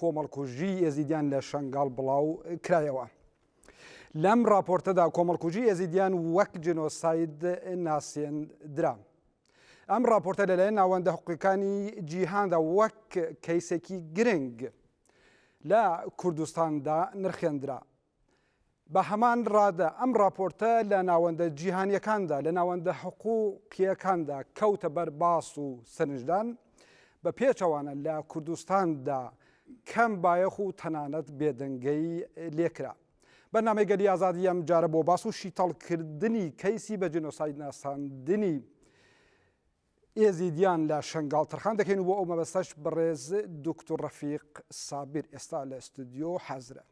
کۆمەڵکوژی ئێزیدیان لە شەنگاڵ بڵاو کرایەوە. لەم ڕاپۆرتەدا کۆمەڵکوژی ئێزیدیان وەک جنۆساید ناسێندرا. ئەم ڕاپۆرتە لەلایەن ناوەندە حقوقەکانی جیهاندا وەک کەیسێکی گرنگ لە کوردستاندا نرخێندرا. بە هەمان ڕادە ئەم ڕاپۆرتە لە ناوەندە جیهانیەکاندا لە ناوەندە حقوقیەکاندا کەوتە بەر باس و سەرنجدان بە پێچەوانە لە کوردستاندا کەم بایەخ و تەنانەت بێدەنگەی لێکرا. بەرنامەی گەلی ئازادی ئەم جارە بۆ باس و شیتەڵکردنی کەیسی بە جنۆساید ناساندنی ئێزیدیان لە شنگاڵ تەرخان دەکەین و بۆ ئەو مەبەستەش بەڕێز دکتور ڕەفیق سابیر ئێستا لە استودیۆ حەزرە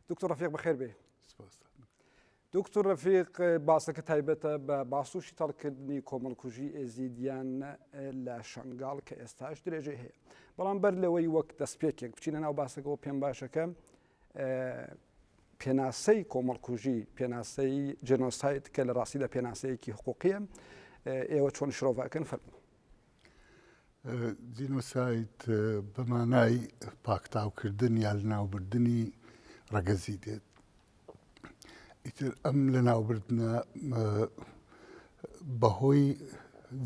دکتۆر ڕفیق بەخێر بێ دکتۆر ڕفیق باسەکە تایبەتە بە باسوشی تەڵکردنی کۆمەڵکوژی ئێزیدیان لە شنگال کە ئێستاش درێژەی هەیە بەڵام بەر لەوەی وەک دەستپێکێک بچینە ناو باسەکەەوە پێم باشەکە پێناسەی کۆمەڵکوژی پێناسەی جنۆسایت کە لە ڕاستیدا پێناسەیەکی حقوقیە ئێوە چۆن شرۆڤەکەن فەرمو جینۆساید بە مانای پاکتاوکردن یا لەناوبردنی ڕەگەزی دێت ئیتر ئەم لەناوبردنە بەهۆی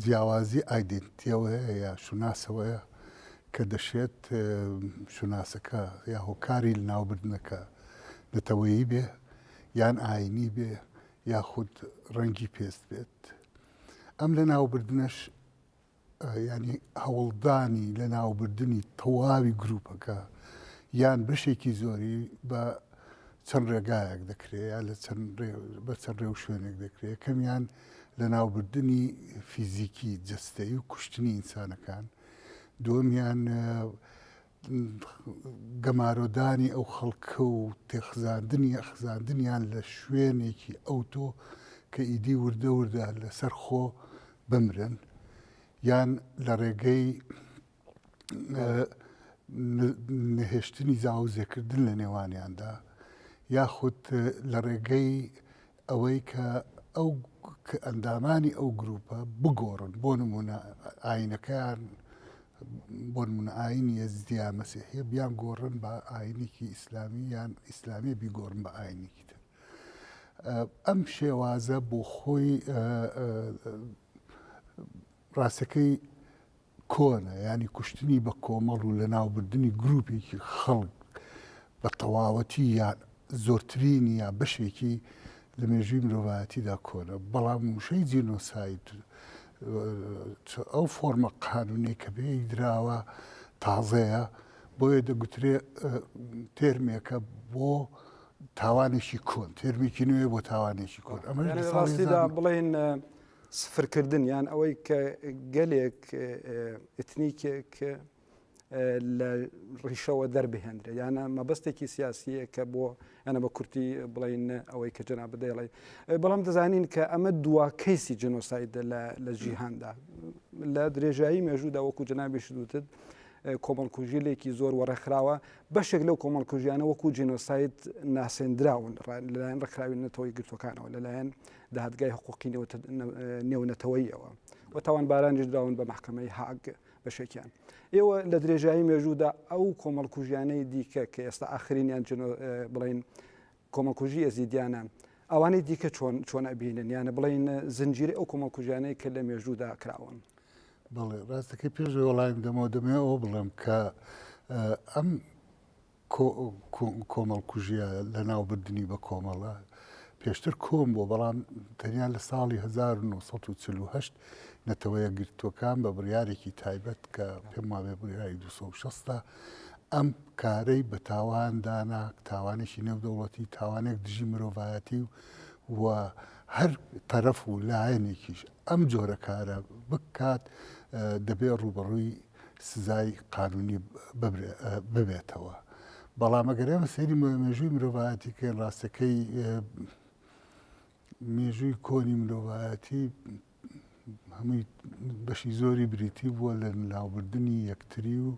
جیاوازی ئایدنتیەوەیە یا شوناسەوەیە کە دەشێت شوناسەکە یا هۆکاری لەناوبردنەکە نەتەوەیی بێ یان ئاینی بێ یاخود ڕەنگی پێست بێت. ئەم لەناوبردنەش ینی هەوڵدانی لە ناوبردنی تەواوی گروپەکە یان بەشێکی زۆری بە چەند ڕێگایەک دەکرێت یا لە بە چەند ڕێ و شوێنێک دەکرێت کەمیان لە ناوبردنی فیزیکی جستەی و کوشتنی ئینسانەکان دومیان گەمارۆدانی ئەو خەڵکە و تێخزاندنی یا خزاندنیان لە شوێنێکی ئەوتۆ کە ئیدی وردە وردە لەسەر خۆ بمرن یان لە ڕێگەی نەهێشتنی زاوزێکردن لە نێوانیاندا یاخود لە ڕێگەی ئەوەی کە ئەو کە ئەندامانی ئەو گرووپە بگۆڕن بۆ نمونە ئاینەکەیان بۆ نمونە ئاین یەزدیا مەسیحە بیان گۆڕن بە ئاینێکی ئیسلامی یان ئیسلامی بیگۆڕن بە ئاینێکی تر ئەم شێوازە بۆ خۆی ڕاستەکەی کۆنە یانی کوشتنی بە کۆمەڵ و لەناوبردنی گروپێکی خەڵک بە تەواوەتی یان زۆرترینی یان بەشێکی لە مێژووی مرۆڤایەتیدا کۆنە بەڵام وشەی جینۆساید ئەو فۆرمە قانونەی کە پێی دراوە تازەیە بۆیە دەگوترێ تێرمێکە بۆ تاوانێکی کۆن تێرمێکی نوێ بۆ تاوانێکی کۆن ئەمەڕاستیدا بڵێن سفرکردن یان ئەوەی کە گەلێک ئتنیکێک لە ڕیشەوە دەربهێنرێ یانە مەبەستێکی سیاسیە کە بۆ ئەە بە کورتی بڵین ئەوەی کە جنا بدەڵێ بەڵام دەزانین کە ئەمە دوا کەیسی جنۆسایدە لە جیهاندا لە درێژایی مێژوودا وەکو جنابیش دوتت کۆمەڵکوژیلێکی زۆر وەڕێکخراوە بەشێک لەو کۆمەڵکوژیانە وەکو جینۆسایت ناسێندراون لەلایەن ڕێکخراوی نەتەوەی گرتوەکانەوە لەلایەن دادگای حقوقی نێونەتەوەییەوە و تاوانبارانیش دراون بە محکمەی هاگ بەشێکیان ئێوە لە درێژایی مێژوودا ئەو کۆمەڵکوژیانەی دیکە کە ئێستا ئاخرینیان بڵین کۆمەڵکوژی ئەزیدیانە ئەوانەی دیکە چۆن چۆن ئەبینن یانە بڵین زنجیری ئەو کۆمەڵکوژیانەی کە لە مێژوودا کراون بەڵێ ڕاستەکەی پێش وەڵایم دەمەوە دەمێ ئەو بڵم کە ئەم کۆمەڵکوژییە لەناوبردنی بە کۆمەڵە پێشتر کۆن بووە، بەڵام تەنیا لە ساڵی هەزار و نۆ سەد و چل و هەشت نەتەوە یەکگرتووەکان بە بڕیارێکی تایبەت کە پێم وابێ بڕیاری دوو سەد و شەست ە ئەم کارەی بە تاوان دانا، تاوانێکی نێودەوڵەتی، تاوانێک دژی مرۆڤایەتی و هەر تەرەف و لایەنێکیش ئەم جۆرە کارە بکات دەبێت ڕووبەڕووی سزای قانونی ببێتەوە بەڵام ئەگەر ئێمە سەیری مێژووی مرۆڤایەتی کە ڕاستەکەی مێژووی کۆنی مرۆڤایەتی هەمووی بەشی زۆری بریتی بووە لە ناوبردنی یەکتری و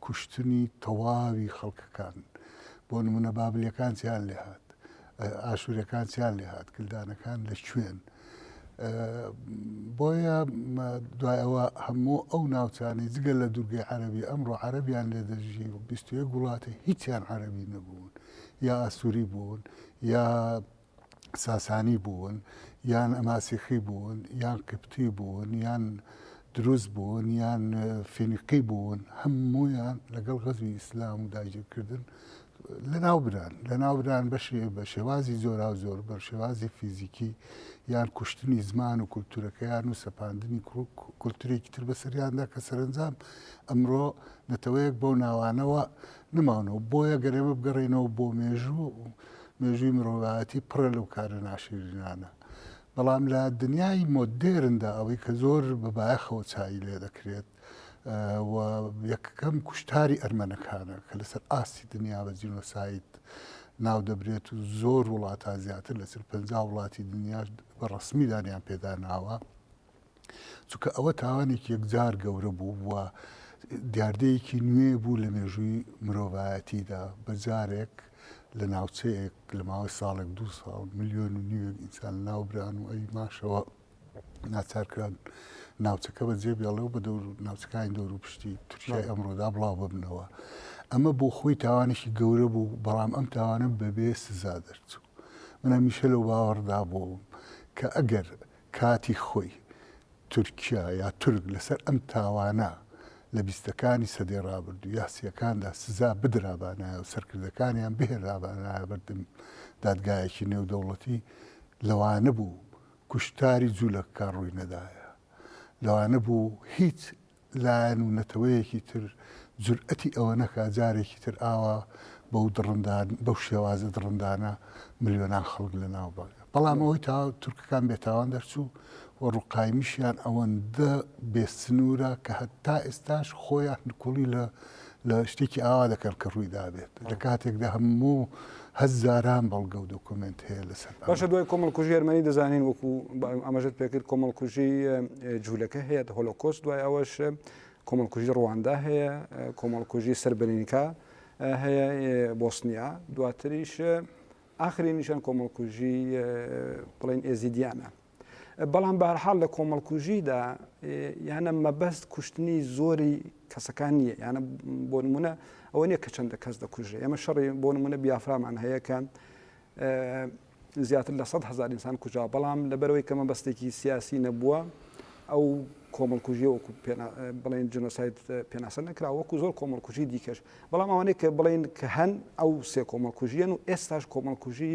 کوشتنی تەواوی خەڵکەکان بۆ نمونە بابلیەکان چیان لێهات ئاشوورەکان چیان لێهات کلدانەکان لە کوێن بۆیە دوای ئەوە هەموو ئەو ناوچانی جگە لە دوورگەی عەربی ئەمڕۆ عەربیان لێ دەژی و بیستوێ گوڵاتە هیچیان عەربی نەبوون یا ئاسووری بوون یا ساسانی بوون یان ئەماسیخی بوون یان قبتی بوون یان دروز بوون یان فینقی بوون هەموویان لەگەڵ غەزوی ئیسلام و داگیرکردن لە ناوبران لە ناوبران بەشێ بە شێوازی زۆرا زۆر بە شێوازی فیزیکی یان کوشتنی زمان و کولتورەکەیان و سەپاندنی کولتورێکی تر بەسەریاندا کە سەرنجام ئەمڕۆ نەتەوەیەک بەو ناوانەوە نماونەوە بۆیە گەرێمە بگەڕێنەوە بۆ مێژوو مێژووی مرۆڤایەتی پڕە لەو کارە ناشیرینانە، بەڵام لە دنیای مۆدێرندا ئەوەی کە زۆر بە بایەخەوە چایی لێ دەکرێت و یەکەم کوشتاری ئەرمەنەکانە کە لەسەر ئاستی دنیا بە جینۆساید ناو دەبرێت و زۆر وڵاتان زیاتر لە چل پەنجا وڵاتی دنیاش بە ڕەسمی دانیان پێدا ناوە. چونکە ئەوە تاوانێکی یەکجار گەورە بوو و دیاردەیەکی نوێ بوو لە مێژووی مرۆڤایەتیدا بە جارێک لە ناوچەیەک لە ماوەی ساڵێک دو ساڵ ملیۆن و نیوێک ئینسان ناوبران و ئەوی ماشەوە ناچارکران ناوچەکە بە جێ بێڵێ و بە دەور ناوچەکانی دەور و پشتی تورکیای ئەمڕۆدا بڵاو ببنەوە ئەمە بۆ خۆی تاوانێکی گەورە بوو بەڵام ئەم تاوانە بەبێ سزا دەرچوو من هەمیشە لەو باوەڕدا بووم کە ئەگەر کاتی خۆی تورکیا یا تورک لەسەر ئەم تاوانە لە بیستەکانی سەدەی ڕابردوو یا سیەکاندا سزا بدرابانایە و سەرکردەکانیان بهێنرابانایە بەردەم دادگایەکی نێودەوڵەتی لەوانەبوو کوشتاری جولەکەکان ڕووی نەدایە لەوانەبوو هیچ لایەن و نەتەوەیەکی تر جورئەتی ئەوە نەکا جارێکی تر ئاوا بەو دڕندان بەو شێوازە دڕندانە ملیۆنان خەڵک لە ناو بەرێ بەڵام ئەوەی تا تورکەکان بێتاوان دەرچوو و ڕوقایمیشیان ئەوەندە بێ سنوورە کە هەتا ئێستاش خۆیان نکوڵی لە لە شتێکی ئاوا دەکەن کە ڕووی دابێت لە کاتێکدا هەموو هەزاران بەڵگە و دۆکۆمنت هەیە لەسەر باشە دوای کۆمەڵکوژی ئەرمەنی دەزانین وەکو ئەمەژت پێکرد کۆمەڵکوژی جوولەکە هەیە هۆلۆکۆست دوای ئەوەش کۆمەڵکوژی ڕواندا هەیە کۆمەڵکوژی سربرینکە هەیە بۆسنیا دواتریش ئاخری نیشان کۆمەڵکوژی بڵین ئێزیدیانە بەڵام بەهەرحاڵ لە کۆمەڵکوژیدا یانە مەبەست کوشتنی زۆری کەسەکان نییە یانە بۆ نمونە ئەوە نییە کە چەندە کەس دەکوژێ ئێمە شەڕی بۆ نمونە بیافرامان هەیە کە زیاتر لە 100 هزار ئینسان کوژا بەڵام لەبەرەوەی کە مەبەستێکی سیاسی نەبووە ئەو کۆمەڵکوژی وەکو بڵێن جنۆسایت پێناسە نکرا وەکو زۆر کۆمەڵکوژی دیکەش بەڵام ئەوانەیە کە بڵین کە هەن ئەو سێ کۆمەڵکوژیان و ئێستاش کۆمەڵکوژی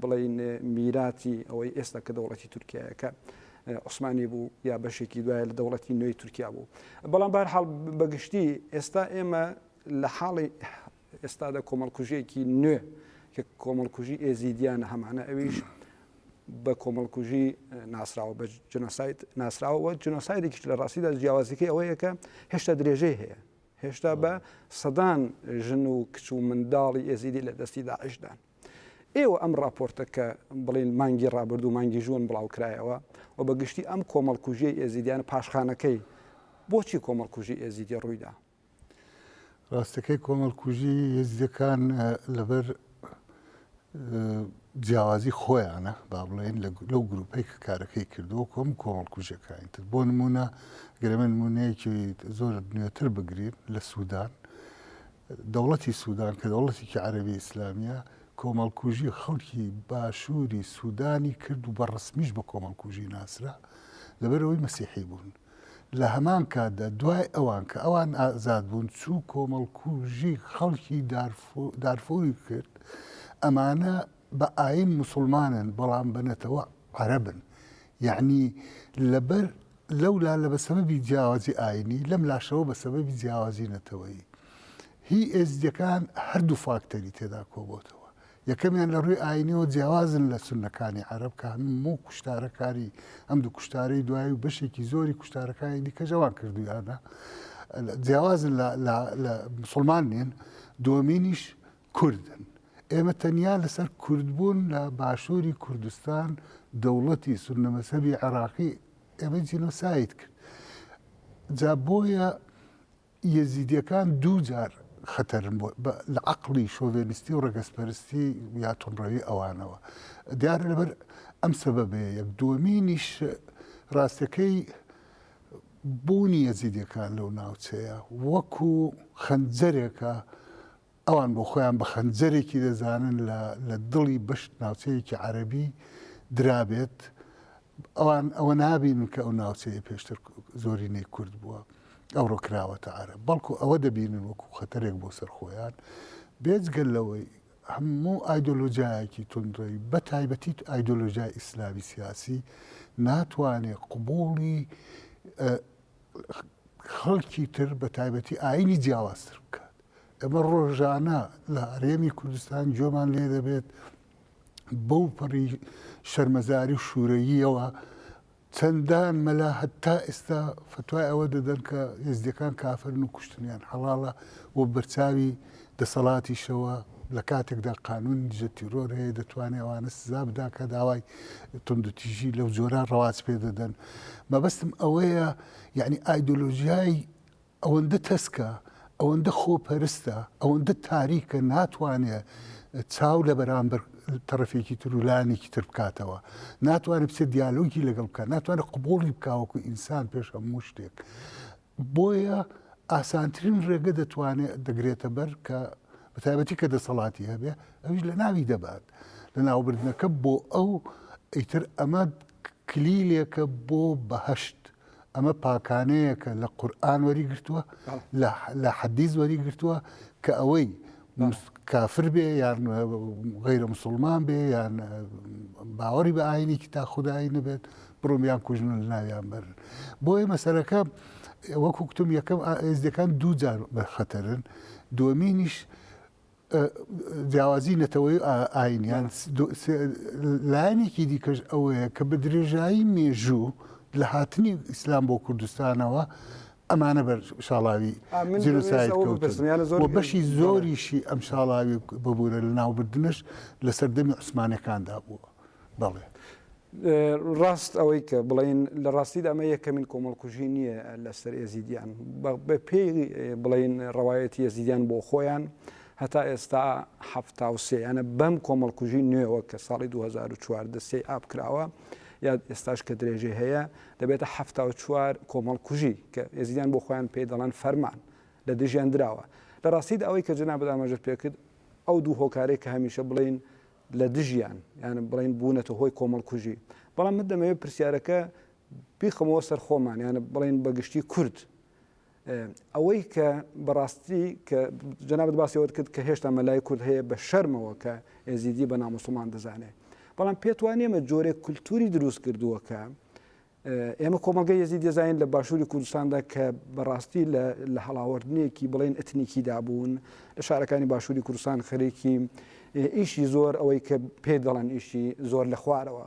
بڵێین میراتی ئەوەی ئێستا کە دەوڵەتی تورکیایە کە عوسمانی بوو یا بەشێکی دوایە لە دەوڵەتی نوێی تورکیا بوو بەڵام بارحاڵ بەگشتی ئێستا ئێمە لە حاڵی ئێستادا کۆمەڵکوژیەکی نوێ کە کۆمەڵکوژی ئێزیدیانە هەمانە ئەویش بە کۆمەڵکوژی ناسراوە بە جنۆسایت ناسراوە جنۆسایدێکیش لە ڕاستیدا جیاوازەکەی ئەوەیەکە هێشتا درێژەی هەیە هێشتا بە سەدان ژن و کچ و منداڵی ئێزیدی لە دەستی داعشدان ئێوە ئەم ڕاپۆرتە کە بڵێن مانگی ڕابردوو مانگی ژوون بڵاوکرایەوە و بە گشتی ئەم کۆمەڵکوژیەی ئێزیدیانە پاشخانەکەی بۆچی کۆمەڵکوژی ئێزیدی ڕوویدا؟ ڕاستەکەی کۆمەڵکوژی یزیەکان لەبەر جیاوازی خۆیانە با بڵێن لەو گروپەی کە کارەکەی کردووە کۆم کۆمەڵکوژەکانی تر بۆ نمونە گەرمە نمونەیەکی زۆر نوێتر بگرین لە سوودان دەوڵەتی سودان کە دەوڵەتێکی عەرەبی ئیسلامییە، کۆمەڵکوژی خەڵکی باشووری سودانی کرد و بە ڕەسمیش بە کۆمەڵکوژی ناسرا، لەبەرئەوەی مەسیحی بوون. لە هەمان کاتدا دوای ئەوان کە ئەوان ئازاد بوون، چوو کۆمەڵکوژی خەڵکی دارفوری کرد، ئەمانە بە ئایین موسڵمانن بەڵام بە نەتەوە عەرەبن. یەعنی لەبەر لەو لا لە بە سەبەبی جیاوازی ئایینی، لەم لاشەوە بە سەبەبی جیاوازی نەتەوەیی. هی ئێزدییەکان هەر دوو فاکتەری تێدا کۆبۆتەوە. یەکەمیان لە ڕووی ئایینیەوە جیاوازن لە سوننەکانی عەرەب کە هەموو کوشتارەکانی ئەم دوو کوشتارەی دوایی و بەشێکی زۆری کوشتارەکانی دیکەش ئەوان کردوویانە. جیاوازن لە مسوڵمان نین. دووەمینیش کوردن. ئێمە تەنیا لەسەر کوردبوون لە باشووری کوردستان دەوڵەتی سوننە مەزهەبی عێراقی ئێمەی جینۆساید کرد. جا بۆیە یەزیدیەکان دوو جار خەتەرن بۆ لە عقلی شۆڤێنیستی و ڕەگەزپەرستی یا تونڕەوی ئەوانەوە دیارە لەبەر ئەم سەبەبەیە یەک دووەمینیش ڕاستەکەی بوونی یەزیدەکان لەو ناوچەیە وەکو خەنجەرێکە ئەوان بۆ خۆیان بە خەنجەرێکی دەزانن لە لە دڵی بەشت ناوچەیەکی عەرەبی درابێت، ئەوان ئەوە نابینن کە ئەو ناوچەیە پێشتر زۆرینەی کورد بووە، ئەوڕۆ کراوەتە عەرەب، بەڵکو ئەوە دەبینن وەکو خەتەرێک بۆ سەر خۆیان، بێجگە لەوەی هەموو ئایدۆلۆجایەکی توندڕەوی بە تایبەتی ئایدۆلۆژای ئیسلامی سیاسی ناتوانێت قبوڵی خەڵکی تر بە تایبەتی ئاینی جیاوازتر بکات ئەمە ڕۆژانە لە هەرێمی کوردستان جۆمان لێ دەبێت بەو پەڕی شەرمەزاری و شوورەییەوە چەندان مەلا هەتا ئێستا فتوای ئەوە دەدەن کە هێزدەکان کافرن و کوشتنیان حەڵاڵە و بەرچاوی دەسەڵاتیشەوە لە کاتێکدا قانونی دژە تیرۆر هەیە دەتوانێت ئەوانە سزا بدا کە داوای تندوتیژی لەو جۆرە ڕەواز پێ دەدەن مەبەستم ئەوەیە یعنی ئایدۆلۆژیای ئەوەندە تەسکە ئەوەندە خۆپەرستە ئەوەندە تاریکە ناتوانێت چاو لە بەرامبەر تەرەفێکی تر و لایەنێکی تر بکاتەوە ناتوانێت بچێت دیالۆگی لەگەڵ بکە ناتوانێت قبولی بکاوەکو ئینسان پێش هەموو شتێک بۆیە ئاسانترین رێگە دەتوانێ دەگرێتە بەر کە بە تایبەتی کە دەسەڵاتی هەبێ ئەویش لە ناوی دەبات لە ناوبردنەکە بۆ ئەو ئیتر ئەمە کلیلێکە بۆ بەهشت ئەمە پاکانەیەکە لە قورآن وەری گرتووە لە حەدیز وەری گرتووە کە ئەوەی کافر بێ یان غیرە مسلمان بێ یان باوەڕی بە ئاینێکی تا خودایی نەبێت بڕۆم یان کوژن ناویان بەر بۆیە مەسەرەکە وەکو کتم یەکەم ئێزدەکان دوو جار بە خەتەرن دومینیش جیاوازی نەتەوەی ئاینیان لایەنێکی دیکەش ئەوەیە کە بە درێژایی مێژوو لە هاتنی ئیسلام بۆ کوردستانەوە ئەمانە بەر شاڵاوی بەشی زۆریشی ئەم شاڵاوی ببوورە لە ناوبردنش لە سەردەمی عوسمانەکاندا بووە بەڵێ. ڕاست ئەوەی کە بڵین لە ڕاستیدا ئەمە یەکەمین کۆمەڵکوژی نییە لەسەر ئێزیدیان بە پێی بڵین ڕەوایەتی ئێزیدیان بۆ خۆیان هەتا ئێستا هەفتا و سێیانە بەم کۆمەڵکوژی نوێوە کە ساڵی 2014 سی ئاپ کراوە یا ئێستاش کە درێژەی هەیە دەبێتە حەفتا و چوار کۆمەڵکوژی کە ئێزیدیان بۆ خۆیان پێی دەڵێن فەرمان لە دژیان دراوە. لە ڕاستیدا ئەوەی کە جەنابت ئاماژەت پێ کرد ئەو دوو هۆکارەی کە هەمیشە بڵێین لە دژیان یان بڵێین بوونەتە هۆی کۆمەڵکوژی بەڵام من دەمەوێت پرسیارەکە بیخەمەوە سەر خۆمان یان بڵێین بە گشتی کورد ئەوەی کە بەڕاستی کە جەنابت باسی ئەوەت کرد کە هێشتا مەلای کورد هەیە بە شەرمەوە کە ئێزیدی بە ناموسڵمان دەزانێت بەڵام پێت وان ئێمە جۆرێک کولتوری دروست کردووە کە ئێمە کۆمەلگە یەزی دەزانین لە باشووری کوردستاندا کە بەڕاستی لە هەڵاوەردنێکی بڵێن ئەتنیکیدا بوون لە شارەکانی باشووری کوردستان خەرێکی ئیشی زۆر ئەوەی کە پێ دەڵەن ئیشی زۆر لە خوارەوە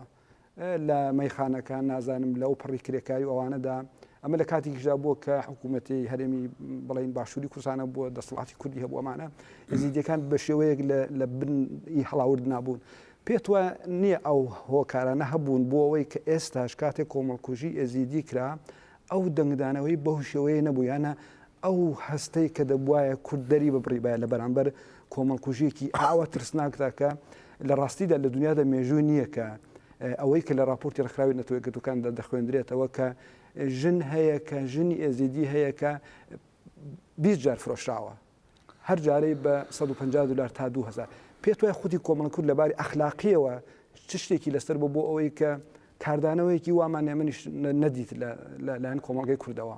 لە مەیخانەکان، نازانم لە ئەوپەڕی کرێکاری و ئەوانەدا، ئەمە لە کاتێکیشدا بووە کە حکوومەتی هەرێمی بڵێین باشووری کوردستانە بووە، دەسەڵاتی کوردی هەبوو، ئەمانە ئێزیدییەکان بە شێوەیەک لە بن ی هەڵاورد نابوون. پێت وا نییە ئەو هۆکارانە هەبوون بۆ ئەوەی کە ئێستاش کاتێک کۆمەڵکوژی ئێزیدی کرا، ئەو دەنگدانەوەی بەو شێوەیە نەبوویانە، ئەو هەستەی کە دەبوایە کورد دەری ببڕیبایە لە بەرامبەر کۆمەڵکوژییەکی ئاوا ترسناکدا کە لە ڕاستیدا لە دنیادا مێژووی نییە کە ئەوەی کە لە ڕاپۆرتی ڕێکخراوی نەتەوە یەکگرتووەکاندا دەخوێندرێتەوە کە ژن هەیە کە ژنی ئێزیدی هەیە کە بیست جار فرۆشراوە. هەر جارەی بە سەد و پەنجا دولار تا دوو هەزار. پێت وایە خودی کۆمەڵە کورد لە باری ئەخلاقییەوە چ شتێکی لەسەر بووە بۆ ئەوەی کە کاردانەوەیەکی وامان ئێمەنیش نەدیت لە لایەن کۆمەڵگەی کوردەوە؟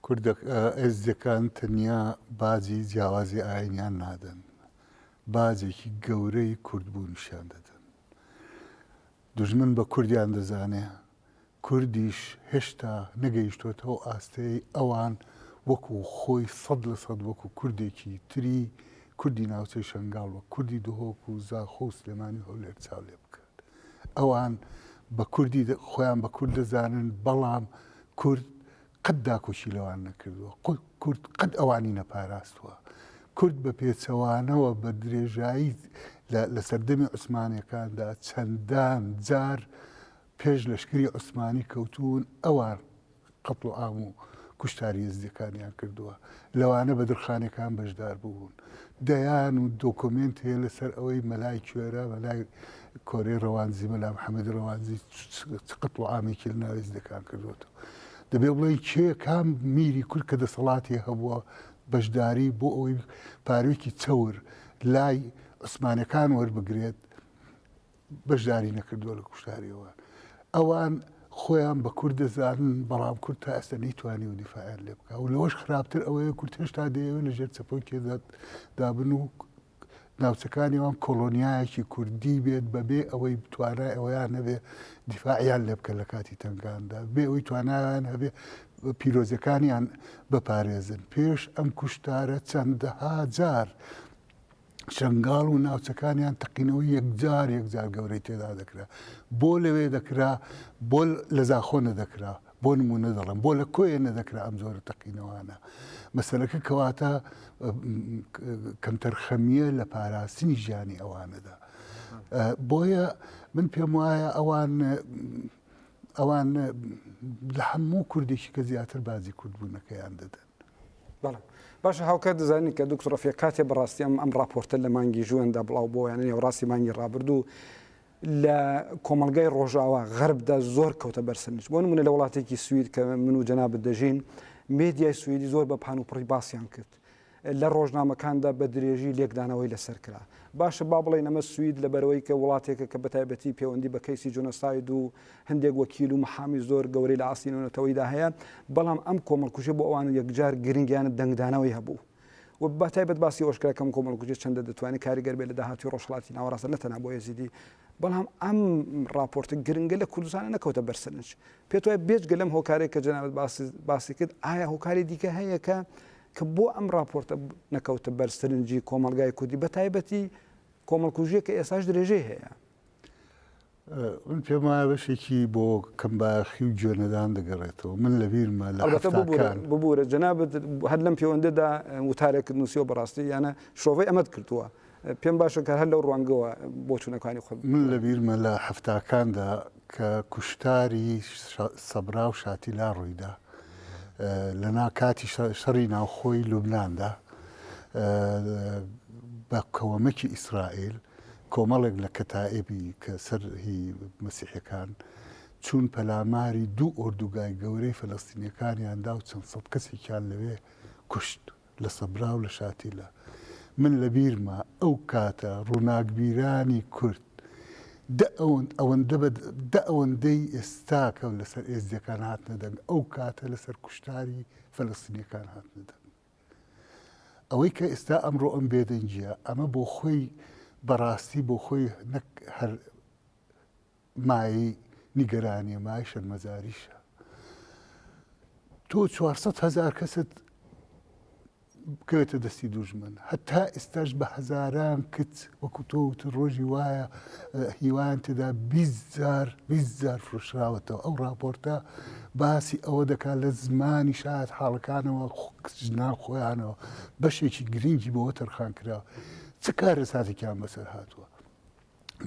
کوردە ئێزدیەکان تەنیا باجی جیاوازی ئاینیان نادەن باجێکی گەورەی کورد بوونیشیان دەدەن دوژمن بە کوردیان دەزانێ کوردیش هێشتا نەگەیشتۆتە ئەو ئاستەی ئەوان وەکو خۆی سەد لە سەد وەکو کوردێکی تری کوردی ناوچەی شەنگاڵ وەک کوردی دهۆک و زاخۆ و سلێمانی و هەولێر چاو لێ بکات. ئەوان بە کوردی خۆیان بە کورد دەزانن بەڵام کورد قەت داکۆکی لەوان نەکردووە کورد قەت ئەوانی نەپاراستووە. کورد بە پێچەوانەوە بە درێژایی لە سەردەمی عوسمانەکاندا چەندان جار پێش لەشکری عوسمانی کەوتوون ئەوان قەتڵ و عام و کوشتاری یەزدیەکانیان کردووە لەوانە بەدرخانەکان بەشدار بوون دەیان و دۆکۆمێنت هەیە لەسەر ئەوەی مەلای کوێرە مەلای کۆرەی ڕەوانزی مەلا محەمەدی ڕەوانزی چ قەتڵ و عامێکی لە ناو یەزدەکان کردووەتەوە دەبێ بڵێن کێ کام میری کورد کە دەسەڵاتی هەبووە بەشداری بۆ ئەوەی پارێکی چەور لای عوسمانەکان وەربگرێت بەشداری نەکردووە لە کوشتاری ئەوان. ئەوان خۆیان بە کورد دەزانن، بەڵام کورد تا ئێستا نەیتوانیوە دیفاعیان لێ بکات و لەوەش خراپتر ئەوەیە کورد هێشتا دەیەوێت لە ژێر چەپۆی کێدادا بن و ناوچەکانی ئەوان کۆڵۆنیایەکی کوردی بێت بەبێ ئەوەی توانای ئەوەیان نەبێ دیفاعیان لێ بکەن لە کاتی تەنگاندا بێ ئەوەی توانایان هەبێ پیرۆزەکانیان بپارێزن پێش ئەم کوشتارە چەندەها جار شەنگاڵ و ناوچەکانیان تەقینەوەی یەکجار یەکجار گەورەی تێدا دەکرا بۆ لەوێ دەکرا بۆ لە زاخۆ نەدەکرا بۆ نمونە دەڵم بۆ لە کۆیە نەدەکرا ئەم زۆرە تەقینەوانە مەسەرەکە کەواتە کەمتەرخەمیە لە پاراستنی ژیانی ئەوانەدا بۆیە من پێم وایە ئەوان ئەوان لە هەموو کوردێکی کە زیاتر بازی کوردبوونەکەیان دەدەن بەڵێ باشە هاوکات دەزانین کە دکتۆر ڕەفیق کاتێ بەڕاستی ئەم ئەم ڕاپۆرتە لە مانگی ژوئێندا بڵاو بۆ یانە نێوڕاستی مانگی ڕابردوو لە کۆمەلگای ڕۆژاوا غەربدا زۆر کەوتە بەرسەرنج بۆ منە لە وڵاتێکی سوید کە من و جەنا بدەژین مێدیای سویدی زۆر بە پان و پڕی باسییان کرد لە ڕۆژنامەکاندا بە درێژی لێکدانەوەی لەسەر کرا باشە با بڵێن ئەمە سوید لە بەرەوەی کە وڵاتێکە کە بەتایبەتی پەیوەندی بە کەیسی جۆنەساید و هەندێک وەکیل و محامی زۆر گەورەی لە ئاستی نێونەتەوەیدا هەیە، بەڵام ئەم کۆمەڵکوژیە بۆ ئەوان یەکجار گرنگ یانە دەنگدانەوەی هەبوو و بە تایبەت باسی ئەوەش کرا کە ئەم کۆمەڵکوژیە چەندە دەتوانێت کاریگەر بێت لە داهاتووی ڕۆژهەڵاتی ناوەڕاست نە تەنها بۆ ئێزیدی بەڵام ئەم ڕاپۆرتە گرنگە لە کوردستانە نەکەوتە بەرسەرنج پێت وایە بێجگە لەم هۆکارێک کە جەنابەت باسی باسی کرد ئایا هۆکاری دیکە هەیە کە کە بۆ ئەم راپۆرتە نەکەوتە بەر سرنجی کۆمەلگای کوردی بە تایبەتی کۆمەڵکوژیە کە ئێساش درێژەی هەیە من پێم وایە بەشێکی بۆ کەمبایەخی و گوێ نەدان دەگەڕێتەوە، من لە بیرمە لە ئەڵبەتە ببورە هەفتاکان. ببورە جەنابت هەر لەم پێوەندەدا وتارێکت نووسیوە بەڕاستی یانە شرۆڤەی ئەمەت کردووە پێم باشە کە هەر لەو ڕوانگەوە بۆچوونەکانی خۆت بڵێ. من لە بیرمە لە هەفتاکاندا کە کوشتاری سەبرا و شاتیلا ڕوویدا لە نا کاتی شەڕی ناوخۆی لوبناندا بە کەوەمەکی ئیسرائیل، کۆمەڵێک لە کەتائیبی کە سەر هی مەسیحیەکان چوون پەلاماری دوو ئۆردوگای گەورەی فەلەستینیەکانیان دا و چەند سەد کەسێکیان لەوێ کوشت لە سەبرا و لە شاتیلە. من لە بیرمە ئەو کاتە ڕووناکبیرانی کورد دە ئەوەندە بە دە ئەوەندەی ئێستا کە لەسەر ئێزدیەکان هاتنە دەنگ ئەو کاتە لەسەر کوشتاری فەلەستینیەکان هاتنە دەنگ. ئەوەی کە ئێستا ئەمڕۆ ئەم بێدەنگییە، ئەمە بۆ خۆی بە ڕاستی بۆ خۆی نەک هەر مایەی نیگەرانییە، مایەی شەرمەزاریشە. تۆ چوار سەد هەزار کەست بکەوێتە دەستی دوژمن، هەتا ئێستاش بە هەزاران کچ وەکو تۆ وتت ڕۆژی وایە هیوایان تێدا بیست جار بیست جار فرۆشراوەتەوە، ئەو ڕاپۆرتە باسی ئەوە دەکات لە زمانی شایەتحاڵەکانەوە ناو خۆیانەوە بەشێکی گرنگی بەوە تەرخان کراوە چ کارەساتێکیان بەسەر هاتووە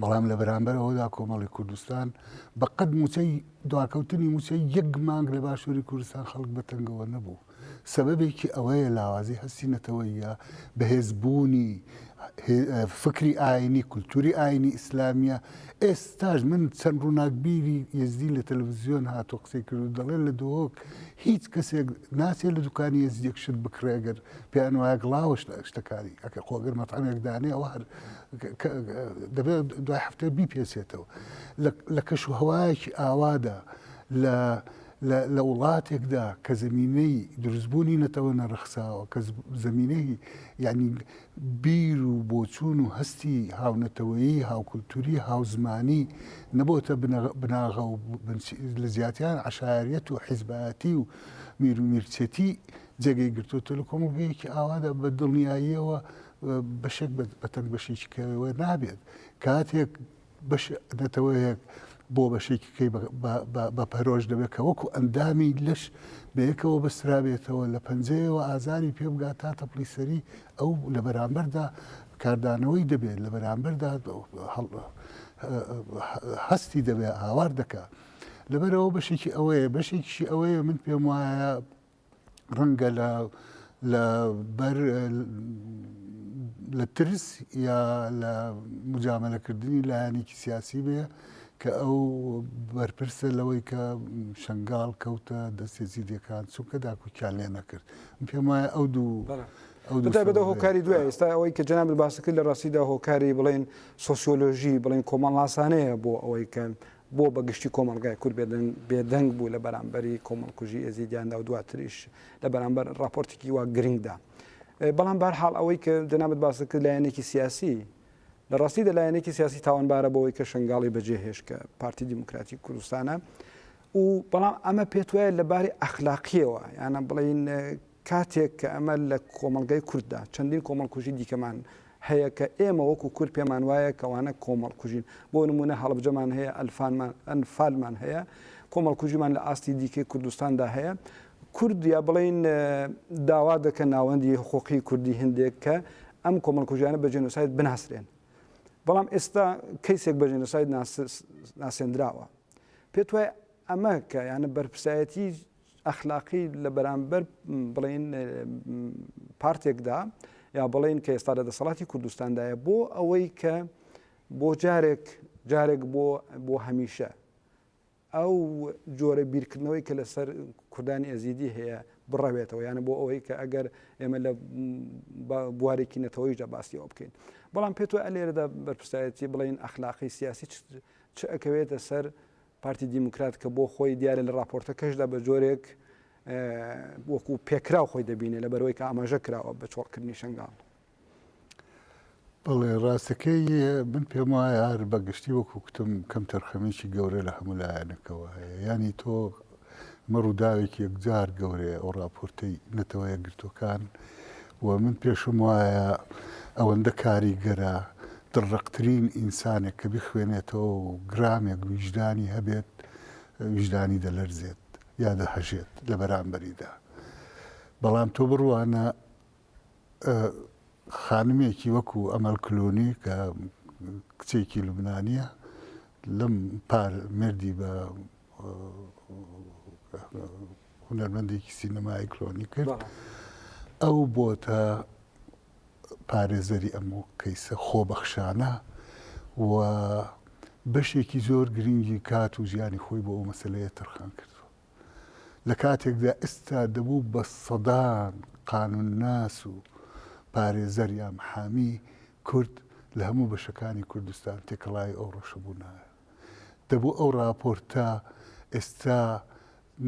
بەڵام لە بەرامبەر ئەوەدا کۆمەڵی کوردستان بەقەت موچەی دواکەوتنی موچەی یەک مانگ لە باشووری کوردستان خەڵک بەتەنگەوە نەبوو سەبەبێکی ئەوەیە لاوازی هەستی نەتەوەییە، بەهێز بوونی فکری ئاینی، کولتوری ئاینی ئیسلامیە، ئێستاش من چەند ڕووناکبیری یەزدی لە تەلەفزیۆن هاتووە قسەی کردوو دەڵێ لە دهۆک هیچ کەسێک ناچێ لە دوکانی یەزدیەک شت بکڕێ گەر پێیان وایە گڵاوەش لە شتەکانی ئەکە خۆ گەر مەتعەمێک دانێ ئەوە هەر دەبێت دوای هەفتەیە بیپێچێتەوە لە کەش و هەوایەکی ئاوادا لە لە وڵاتێکدا کە زەمینەی دروستبوونی نەتەوە نەڕەخساوە، کە زەمینەی یانی بیر و بۆچوون و هەستی هاونەتەوەیی، هاوکولتووری، هاوزمانی نەبۆتە بناغە و لە جیاتیان عەشایەریەت و حیزبایەتی و میر و میرچێتی جێگەی گرتۆتە، لە کۆمەڵگەیەکی ئاوادا بە دڵنیاییەوە بەشێک بە تەنگ بەشێکی کەوێ نابێت. کاتێک بەش نەتەوەیەک بۆ بەشێکەکەی بەپەرۆش دەبێت کە وەکو ئەندامی لەش بەیەکەوە بەسترابێتەوە لە پەنجەیەوە ئازاری پێبگا تا تەپلی سەری ئەو لە بەرامبەردا کاردانەوەی دەبێت لە بەرامبەردا هەستی دەبێت هاوار دەکات لەبەرەوە بەشێکی ئەوەیە بەشێکیشی ئەوەیە من پێم وایە ڕەنگە لە لە بەر لە ترس یا لە مجاملەکردنی لایەنێکی سیاسی بێ کە ئەو بەرپرسە لەوەی کە شنگال کەوتە دەستێ زیدەکان چونکە داکوکیان لێ نەکرد پێم وایە ئەو دوو بەدا هۆکاری دوای ئێستا ئەوەی کە جەناب باسەکە لە ڕاستیدا هۆکاری بڵێن سۆسیۆلۆژی بڵێن کۆمەڵناسانەیە بۆ ئەوەی کە بۆ بە گشتی کۆمەڵگای کورد بێدەنگ بوو لە بەرامبەری کۆمەڵکوژی ئێزیدیاندا و دواتریش لە بەرامبەر ڕاپۆرتێکی وا گرنگدا بەڵام بار حاڵ ئەوەی کە جەنابەت باس دەکرد لایەنێکی سیاسی لە ڕاستی دە لایەنێکی سیاسی تاوانبارە بەوەی کە شنگاڵی بەجێ هێش کە پارتی دیموکراتی کوردستانە و بەڵام ئەمە پێت وایە لە باری ئەخلاقیەوە یانە بڵین کاتێک کە ئەمە لە کۆمەڵگای کورددا چەندین کۆمەڵکوژی دیکەمان هەیە کە ئێمە وەکو کورد پێمان وایە کەوانە کۆمەڵکوژین بۆ نمونە هەڵبجەمان هەیە ئەلفانمان ئەنفالمان هەیە کۆمەڵکوژیمان لە ئاستی دیکەی کوردستاندا هەیە کورد یا بڵین داوا دەکە ناوەندی حقوقی کوردی هندێک کە ئەم کۆمەڵکوژیانە بە جێنۆسایت بناسرێن بەڵام ئێستا کەیسێک بە جێنۆسایت ناسێنراوە پێت وایە ئەمە کە یانە بەرپسایەتی ئەخلاقی لە بەرامبەر بڵێن پارتێکدا یا بڵێن کە ئێستا لە دەسەڵاتی کوردستاندایە بۆ ئەوەی کە بۆ جارێک جارێک بۆ بۆ هەمیشە ئەو جۆرە بیرکردنەوەی کە لەسەر کوردانی ئەزیدی هەیە بڕەوێتەوە یانە بۆ ئەوەی کە ئەگەر ئێمە لە بوارێکی نەتەوەیشدا باسیەوە بکەین بەڵام پێت وە ئەلێرەدا بەرپسایەتی بڵین ئەخلاقی سیاسی چ ئەکەوێتە سەر پارتی دیموکرات کە بۆ خۆی دیارە لە ڕاپۆرتەکەشدا بە جۆرێک وەکو پێکراو خۆی دەبینێ لە بەرەوەی کە ئاماژە کراوە بە چۆڵکردنی شنگال بەڵێ ڕاستەکەی من پێم وایە هەر بەگشتی وەکو کوتم کەم تەرخەمێکی گەورە لە هەموو لایەنەکەوە هەیە ینی تۆ ئەمە ڕووداوێکی یەکجار گەورەیە ئەو ڕاپۆرتەی نەتەوە یەکگرتووەکان و من پێشم وایە ئەوەندە کاریگەرە دڕقترین ئینسانێک کە بخوێنێتەوە و گرامێک ویژدانی هەبێت ویژدانی دەلەرزێت یا دەهەژێت لە بەرامبەریدا بەڵام تۆ بڕوانە خانمێکی وەکو ئەمەل کلونی کە کچێکی لوبنانیە لەم پار مردی بە هونەرمەندێکی سینەمای کلۆنی کرد ئەو بۆتە پارێزەری ئەم کەیسە خۆبەخشانە و بەشێکی زۆر گرنگی کات و ژیانی خۆی بۆ ئەو مەسلەیە تەرخان کردووە لە کاتێکدا ئێستا دەبوو بە سەدان قانوونناس و پارێزەر یا محامی کورد لە هەموو بەشەکانی کوردستان تێکەڵاوی ئەو ڕەوشە بوونایە. دەبوو ئەو ڕاپۆرتە ئێستا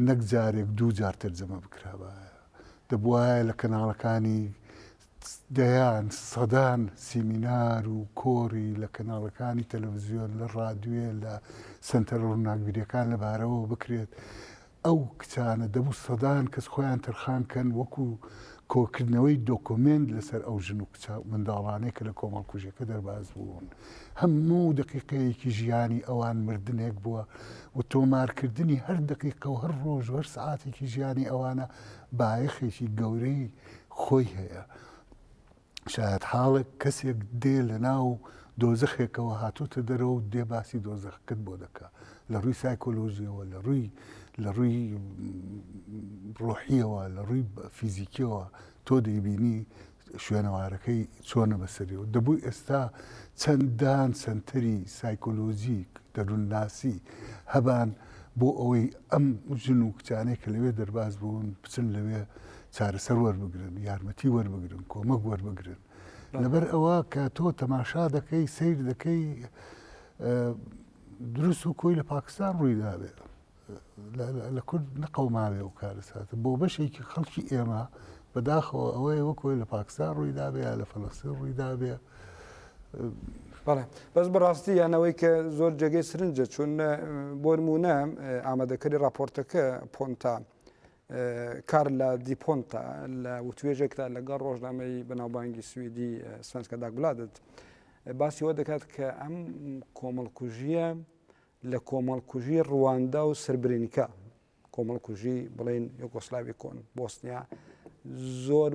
نەک جارێک دوو جار تەرجەمە بکرابایە. دەبووایە لە کەناڵەکانی دەیان، سەدان سیمینار و کۆری لە کەناڵەکانی تەلەڤزیۆن، لە ڕادوێ، لە سەنتەرە ڕووناکبیرەکان لە بارەوەوە بکرێت. ئەو کچانە دەبوو سەدان کەس خۆیان تەرخان کەن وەکو کۆکردنەوەی دۆکۆمێنت لەسەر ئەو ژن و کچە منداڵانەی کە لە کۆمەڵکوژیەکە دەرباز بوون. هەموو دەقیقەیەکی ژیانی ئەوان مردنێک بووە و تۆمارکردنی هەر دەقیقە و هەر ڕۆژ و هەر سەعاتێکی ژیانی ئەوانە بایەخێکی گەورەی خۆی هەیە. شایەتحاڵێک کەسێک دێ لە ناو دۆزەخێکەوە هاتۆتە دەرەوە و دێ باسی دۆزەخەکەت بۆ دەکا. لە ڕووی سایکۆلۆژیەوە لە ڕووی لە ڕووی ڕۆحیەوە لە ڕووی فیزیکیەوە تۆ دەیبینی شوێنەوارەکەی چۆنە بەسەریەوە دەبوو ئێستا چەندان سنتەری سایکۆلۆژیک دەروونناسی هەبان بۆ ئەوەی ئەم ژن و کچانەی کە لەوێ دەرباز بوون بچن لەوێ چارەسەر وەربگرن، یارمەتی وەربگرن، کۆمەک وەربگرن. لەبەر ئەوە کە تۆ تەماشا دەکەی، سەیر دەکەی دروست و کۆی لە پاکستان ڕووی دابێت. لە کورد نەقەوماوێ و کارەساتە بۆ بەشێکی خەڵکی ئێمە بەداخەوە ئەوەیە وەکۆی لە پاکستان ڕووی دابێ یا لە فەلەستین ڕووی دابێ بەڵێ بەس بەڕاستی یانەوەی کە زۆر جێگەی سرنجە چون بۆرمونە ئامادەکەری راپۆرتەکە پۆنتا کارلا دیپۆنتا لە وتوێژێکدا لەگەڵ ڕۆژنامەی بەناوبانگی سویدی سوێنسکە داگبلادت باسی وە دەکات کە ئەم کۆمەڵکوژیە لە کۆمەڵکوژی ڕواندا و سربرینکە کۆمەڵکوژی بڵین یۆگۆسلاوی کۆن بۆسنیا زۆر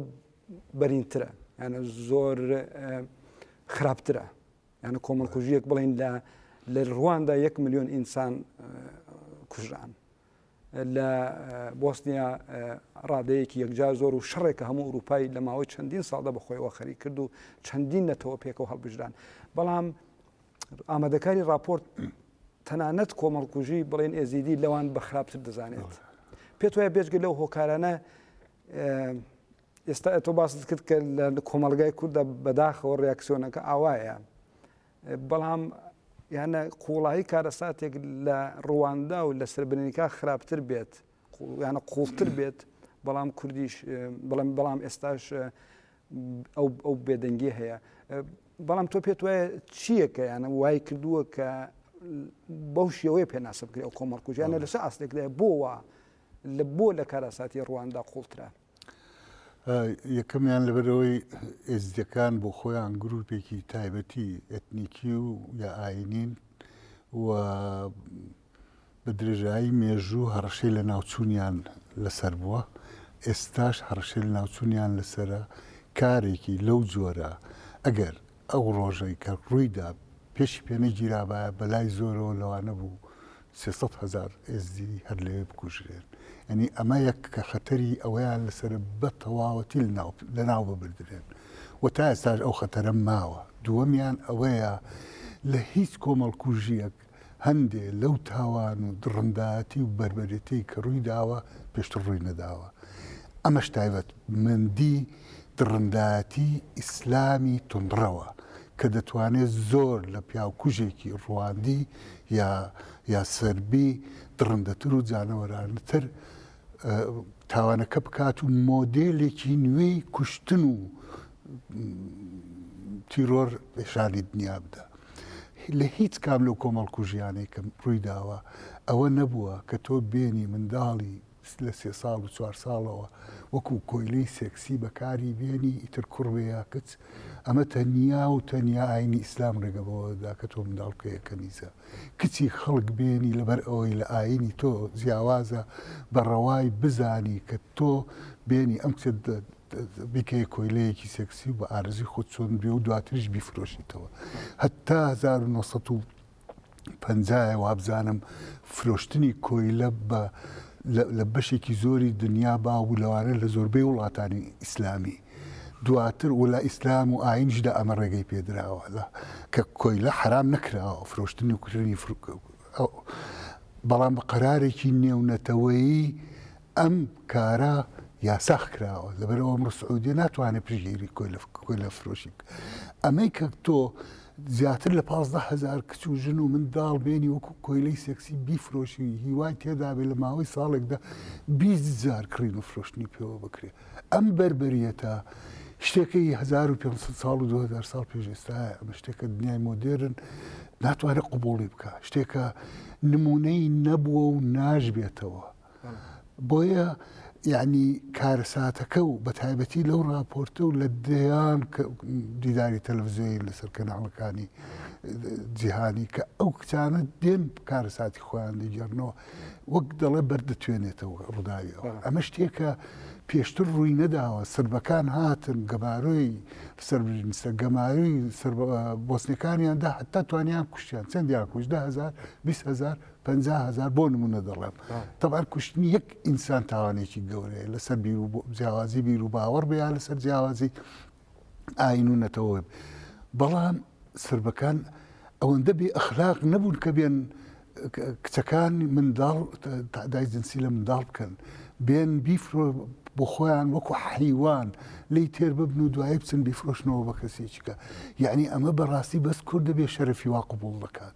بەرینترە یانە زۆر خراپترە یانە کۆمەڵکوژیەک بڵین لە لە ڕواندا یەک میلیۆن ئینسان کوژران لە بۆسنیا ڕادەیەکی یەکجار زۆر و شەڕێک کە هەموو ئەوروپای لە ماوەی چەندین ساڵدا بەخۆیەوە خەریک کرد و چەندین نەتەوە پێکەوە هەڵبژران بەڵام ئامادەکاری راپۆرت تەنانەت کۆمەڵکوژی بڵێن ئێزیدی لەوان بە خراپتر دەزانێت پێت وایە بێژگە لەو هۆکارانە ئێستا ئەتۆ باست کرد کە لە کۆمەلگای کووردا بەداخەوە ڕاکسیۆنەکە ئاوایە بەڵام یانە قوڵایی کارەساتێک لە ڕواندا و لە سربنینکا خراپتر بێت یانە قوڵتر بێت بەڵام کوردیش بڵم بەڵام ئێستاش ئەو بێدەنگی هەیە بەڵام تۆ پێت وایە چییەکە یانە وای کردووە کە بەو شێوەیە پێناسە بکرێت ئەو کۆمەڵکوژیانە لەسە ئاستێکدا بۆ وە لە بۆ لە کارەساتی ڕواندا قوڵترە یەکەمیان لەبەرەوەی ئێزدیەکان بۆ خۆیان گروپێکی تایبەتی ئەتنیکی و یا ئاینین و بە درێژایی مێژوو هەڕەشەی لە ناوچوونیان لەسەر بووە ئێستاش هەڕەشەی لە ناوچوونیان لەسرە کارێکی لەو جۆرە ئەگەر ئەو ڕۆژەی کە ڕوویدا پێشی پێنەگیرابایە بەلای زۆرەوە لەوانە بوو سێ سەد هەزار ئێزدی هەر لەوێ بکوژرێن یانی ئەمە یەک کە خەتەری ئەوەیان لەسەرە بە تەواوەتی لەناو ببردرێن و تا ئێستاش ئەو خەتەرە ماوە دووەمیان ئەوەیە لە هیچ کۆمەڵکوژیەک هەندێ لەو تاوان و دڕنداتی و بەربەرێتی کە ڕووی داوە پێشتر ڕووی نەداوە ئەمەش تایبەت مندی دڕنداتی ئیسلامی تندڕەوە کە دەتوانێت زۆر لە پیاوکوژێکی ڕواندی یا یا سربی دڕندەتر و جانەوەرانەتر تاوانەکە بکات و مۆدێلێکی نوێی کوشتن و تیرۆر پیشانی دنیا بدا. لە هیچ کام لەو کۆمەڵکوژیانەی کە ڕووی داوە ئەوە نەبووە کە تۆ بێنی منداڵی لە سێ ساڵ و چوار ساڵەوە وەکو کۆیلەی سێکسی بەکاری بێنی ئیتر کوڕ بێ یا کچ ئەمە تەنیا و تەنیا ئاینی ئیسلام ڕێگە بەوە دەدا کە تۆ منداڵ بکەیە کەنیزە کچی خەڵک بێنی لەبەر ئەوەی لە ئاینی تۆ جیاوازە بە ڕەوای بزانی کە تۆ بێنی ئەم کچەت بیکەیە کۆیلەیەکی سێکسی و بە ئارزی خۆت چۆن بێ و دواتریش بیفرۆشیتەوە هەتا 1970 پەنجایە وابزانم فرۆشتنی کۆیلە بە لە بەشێکی زۆری دنیا باو بوو لەوانە لە زۆربەی وڵاتانی ئیسلامی دواتر و لە ئیسلام و ئاینشدا ئەمە ڕێگەی پێدراوە لە کە کۆیلە حرام نەکراوە فرۆشتنی و کوردنی بەڵام بە قەرارێکی نێونەتەوەیی ئەم کارە یاساخ کراوە لەبەر ئەوە ئەمڕۆ سعودیە ناتوانێت پشگیری کۆیلە فرۆشی بکات ئەمەی کە تۆ زیاتر لە پازدە هزار کچ و ژن و منداڵ بێنی وەکو کۆیلەی سێکسی بیفرۆشی هیوای تێدابێ لە ماوەی ساڵێکدا بیزار کڕین و فرۆشتنی پێوە بکرێت ئەم بربەریەتە شتێکی 1500 ساڵ و 2000 ساڵ پێش ئێستا ئەمە شتێکە دنیای مۆدێرن ناتوانێت قوبوڵی بکە شتێکە نمونەی نەبووە و ناژبێتەوە بۆیە یەعنی کارەساتەکە و بەتایبەتی لەو ڕاپۆرتە و لە دەیان دیداری تەلەڤزیۆنی لەسەر کەناڵەکانی جیهانی کە ئەو کچانە دێن کارەساتی خۆیان دەگەڕنەوە وەک دەڵێ بەردەتوێنێتەوە ڕووداوی ئەمە شتێکە پێشتر ڕووی نەداوە سربەکان هاتن گەمارۆی سربرینسە گەماروی بۆسنەکانیاندا حتا توانیان کوشتیان چەندیان کوشتدا هزار هزار پەنجا هەزار بۆ نمونە دەڵێم تەبان کوشتنی یەک ئینسان تاوانێکی گەورەیە لەسەر بیر و جیاوازی بیر و باوەڕ بیا لەسەر جیاوازی ئاین و نەتەوە بەڵام سربەکان ئەوەندە بێ ئەخلاق نەبوون کە بێن کچەکان منداڵ تادای جنسی لە منداڵ بکەن بێن بیفرۆ بۆ خۆیان وەکو حیوان لی تێر ببن و دوایی بچن بیفرۆشنەوە بە کەسێکیکە یعنی ئەمە بەڕاستی بەس کورد دەبێ شەرفی وا قوبول دەکات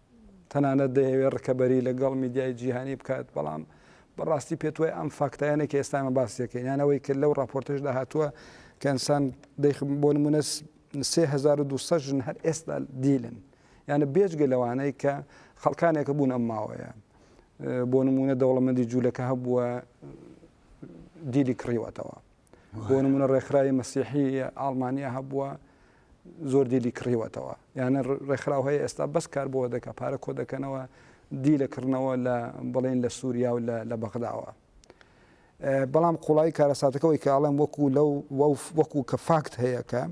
تەنانەت دەیەوێت ڕکەبەری لەگەڵ میدیای جیهانی بکات، بەڵام بەڕاستی پێتوای ئەم فاکتایانە کە ئێستا ئێمە باسیەکەین یان ئەوەی کە لەو ڕاپۆرتەشدا هاتووە کە ئینسان بۆ نمونە 3200 ژن هەر ئێستا دیلن یانە بێجگە لەوانەی کە خەڵکانێکە بوون ئەم ماوەیە بۆ نمونە دەوڵەمەندی جوولەکە هەبووە دیلی کڕیوەتەوە بۆ نمونە ڕێکخراوی مەسیحی ئاڵمانیا هەبووە زۆر دیلی کڕیوەتەوە یانە ڕێکخراو هەیە ئێستا بەس کار بۆ دەکە پارە کۆ دەکەنەوە دی لە کڕنەوە لە بڵێن لە سووریا و لە بەغداوە بەڵام قوڵایی کارەساتەکەەوەی کاڵم وەکو لەو وەکو کە فاکت هەیەکە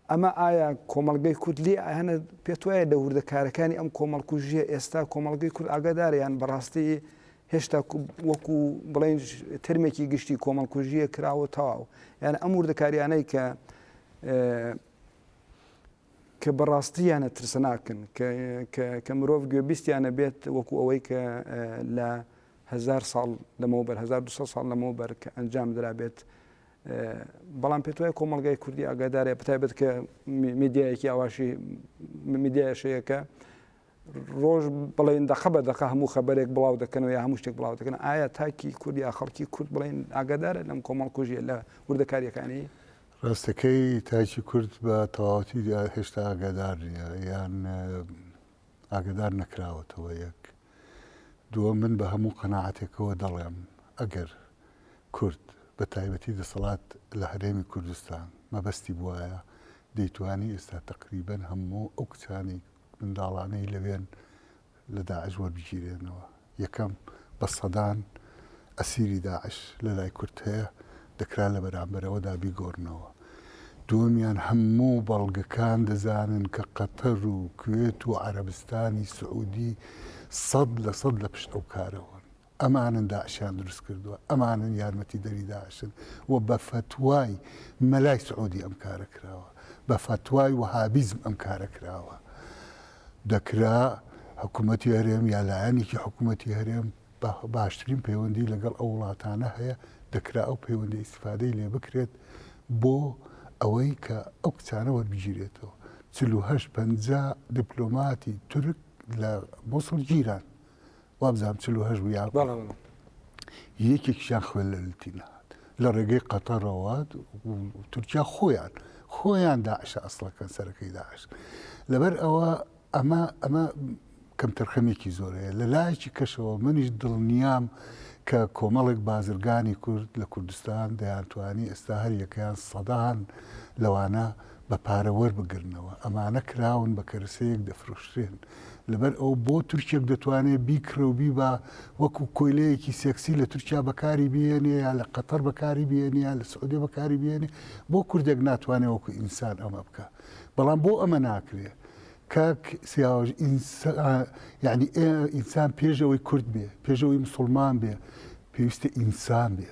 ئەمە ئایا کۆمەڵگەی کورد لێ ئاهەنە پێت وایە لە وردەکارەکانی ئەم کۆمەڵکوژیە ئێستا کۆمەڵگەی کورد ئاگادارە یان بەڕاستی هێشتا وەکو بڵێن ترمێکی گشتی کۆمەڵکوژیە کراوە تەواو یان ئەم وردەکاریانەی کە کە بەڕاستیانە ترسناکن کە مرۆڤ گوێبیستیانە بێت وەکو ئەوەی کە لە هزار ساڵ لەمەوە بەر 1970 ساڵ لەمەوە بەر کە ئەنجام درابێت بەڵام پێت وایە کۆمەڵگای کوردی ئاگادارە بەتایبەت کە میدیایەکی ئاواشی میدیایشەیەکە ڕۆژ بڵێن دەقە بە دەقە هەموو خەبەرێک بڵاو دەکەنەوە یا هەموو شتێک بڵاو دەکەن ئایا تاکی کورد یا خەڵکی کورد بڵێن ئاگادارە لەم کۆمەڵ کوژیە لە وردەکاریەکانی ڕاستەکەی تاکی کورد بە تەواوەتی هێشتا ئاگادار نیە یان ئاگەدار نەکراوەتەوە یەک دووەم من بە هەموو قەناعەتێکەوە دەڵێم ئەگەر کورد بە تایبەتی دەسەڵات لە هەرێمی کوردستان مەبەستی بوایە دەیتوانی ئێستا تەقریبەن هەموو ئەو کچانی منداڵانەی لەوێن لە داعش وەربگیرێنەوە یەکەم، بە سەدان ئەسیری داعش لە لای کورد هەیە، دەکرا لە بەرامبەرەوەدا بیگۆڕنەوە. دووەمیان، هەموو بەڵگەکان دەزانن کە قەتەر و کوێت و عەرەبستانی سعوودی سەد لە سەد لە پشت ئەو کارە بوون. ئەمانن داعشیان دروست کردووە، ئەمانن یارمەتیدەری داعشن و بە فەتوای مەلای سعوودی ئەم کارە کراوە، بە فەتوای وەهابیزم ئەم کارە کراوە. دەکرا حکومەتی هەرێم یا لایەنێکی حکومەتی هەرێم باشترین پەیوەندی لەگەڵ ئەو وڵاتانە هەیە دەکرا ئەو پەیوەندی ئیسفادەی لێ بکرێت بۆ ئەوەی کە ئەو کچانە وەربگیرێتەوە چلوهەشت پەنجا دیپلۆماتی تورک لە موسڵ گیران وابزانم چل و هەشت بوو یاخود بەڵێ بەڵێ یەکێکیشیان خوێن لە لوتی نەهات لە ڕێگەی قەتەڕەوە و تورکیا خۆیان خۆیان داعشە ئەسڵەکەن سەرەکەی داعش لەبەر ئەوە ئەمە ئەمە کەم تەرخەمێکی زۆر هەیە لە لایەکی کەشەوە منیش دڵنیام کە کۆمەڵێک بازرگانی کورد لە کوردستان دەیانتوانی ئێستا هەر یەکەیان سەدان لەوانە بە پارە وەربگرنەوە ئەمانە کراون بە کەرەسەیەک دەفرۆشرێن لەبەر ئەوە بۆ تورکێک دەتوانێت بیکڕێ و بیبا وەکو کۆیلەیەکی سێکسی لە تورکیا بەکاری بێنێ یا لە قەتەر بەکاری بێنێ یا لە سعودێ بەکاری بێنێ بۆ کوردێک ناتوانێت وەکو ئینسان ئەمە بکە بەڵام بۆ ئەمە ناکرێت کاک سیاوەژ یعنی ئینسان پێشەوەی کورد بێ پێشەوەی مسلمان بێ پێویستە ئینسان بێ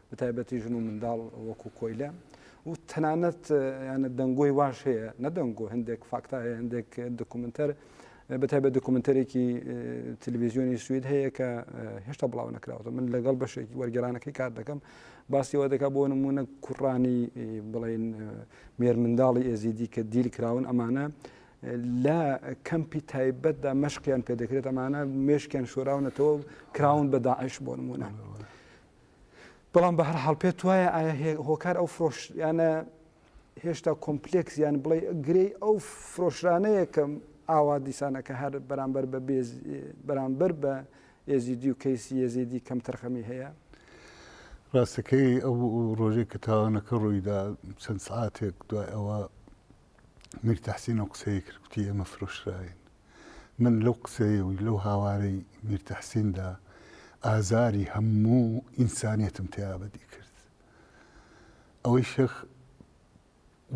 بەتایبەتی ژن و منداڵ وەکو کۆیلە و تەنانەت یانە دەنگۆی واش هەیە نەدەنگۆ هەندێک فاکتا هەیە هەندێک دکومنتەر بەتای بە دکومنتەرێکی تلویزیۆنی سوید هەیە کە هێشتا بڵاو نەکراوە من لەگەڵ بەشێکی وەرگرانەکەی کار دەکەم باسیەوە دەکا بۆ نمونە کوڕانی بڵێن مێر منداڵی ئێزیدی کە دیل کراون ئەمانە لە کەمپی تایبەتدا مەشقیان پێدەکرێت ئەمانە مێشکیان شۆراونەتەوە کراون بە داعش بۆ نمونە. بەڵام بەهەرحاڵ پێت وایە ئایا هۆکار ئەو فرۆشیانە هێشتا کۆمپلێکس یان بڵێ گرێی ئەو فرۆشرانەیە کە ئاوا دیسانە کە هەر بەرامبەر بە بێز بەرامبەر بە ئێزیدی و کەیسی یێزیدی کەم تەرخەمی هەیە؟ ڕاستەکەی ئەو ڕۆژێک کە تاوانەکە ڕوویدا چەند سعاتێک دوای ئەوە میر تەحسین ئەو قسەیە کرد کوتی ئێمە فرۆشراین من لەو قسەی و لەو هاوارەی میر تەحسیندا ئازاری هەموو ئینسانیەتم تیا بەدی کرد. ئەوەی شێخ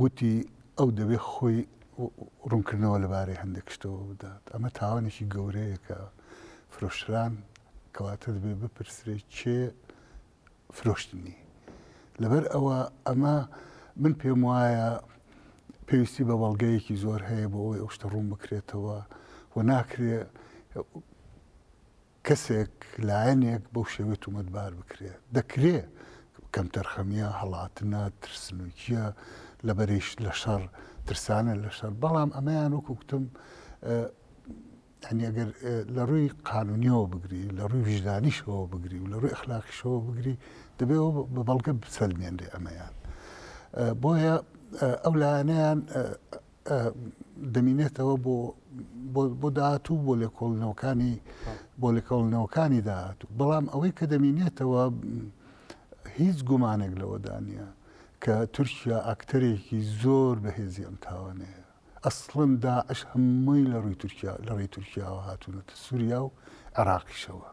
وتی ئەو دەبێ خۆی ڕوونکردنەوە لەبارەی هەندێک شتەوە بدات، ئەمە تاوانێکی گەورەیە کە فرۆشران کەواتە دەبێ بپرسرێ کێ فرۆشتنی لەبەر ئەوە ئەمە من پێم وایە پێویستی بە بەڵگەیەکی زۆر هەیە بۆ ئەوەی ئەو شتە ڕوون بکرێتەوە و ناکرێ کەسێک لایەنێک بەو شێوێت و مەدبار بکرێت دەکرێ کەم تەرخەمیە هەڵاتنە ترسنوکیە لە بەریش لە شەڕ ترسانە لە شەر بەڵام ئەمەیان وەکوکتم یانی ئەگەر لە ڕووی قانونیەوە بگری لە ڕووی ویژدانیشەوە بگری و لە ڕووی ئەخلاقیشەوە بگری دەبێ ئەوە بە بەڵگە بسەلمێنرێ ئەمەیان بۆیە ئەو لایەنەیان دەمینێتەوە بۆ بۆ داهاتوو بۆ لێکۆڵنەوەکانی بۆ لێکۆڵنەوەکانی داهاتوو بەڵام ئەوەی کە دەمینێتەوە هیچ گومانێک لەوەدا نییە کە تورکیا ئاکتەرێکی زۆر بەهێزی ئەم تاوانەیە ئەسڵەن داعش هەمووی لە ڕووی تورکیا لە ڕێی تورکیاوە هاتوونەتە سووریا و عێراقیشەوە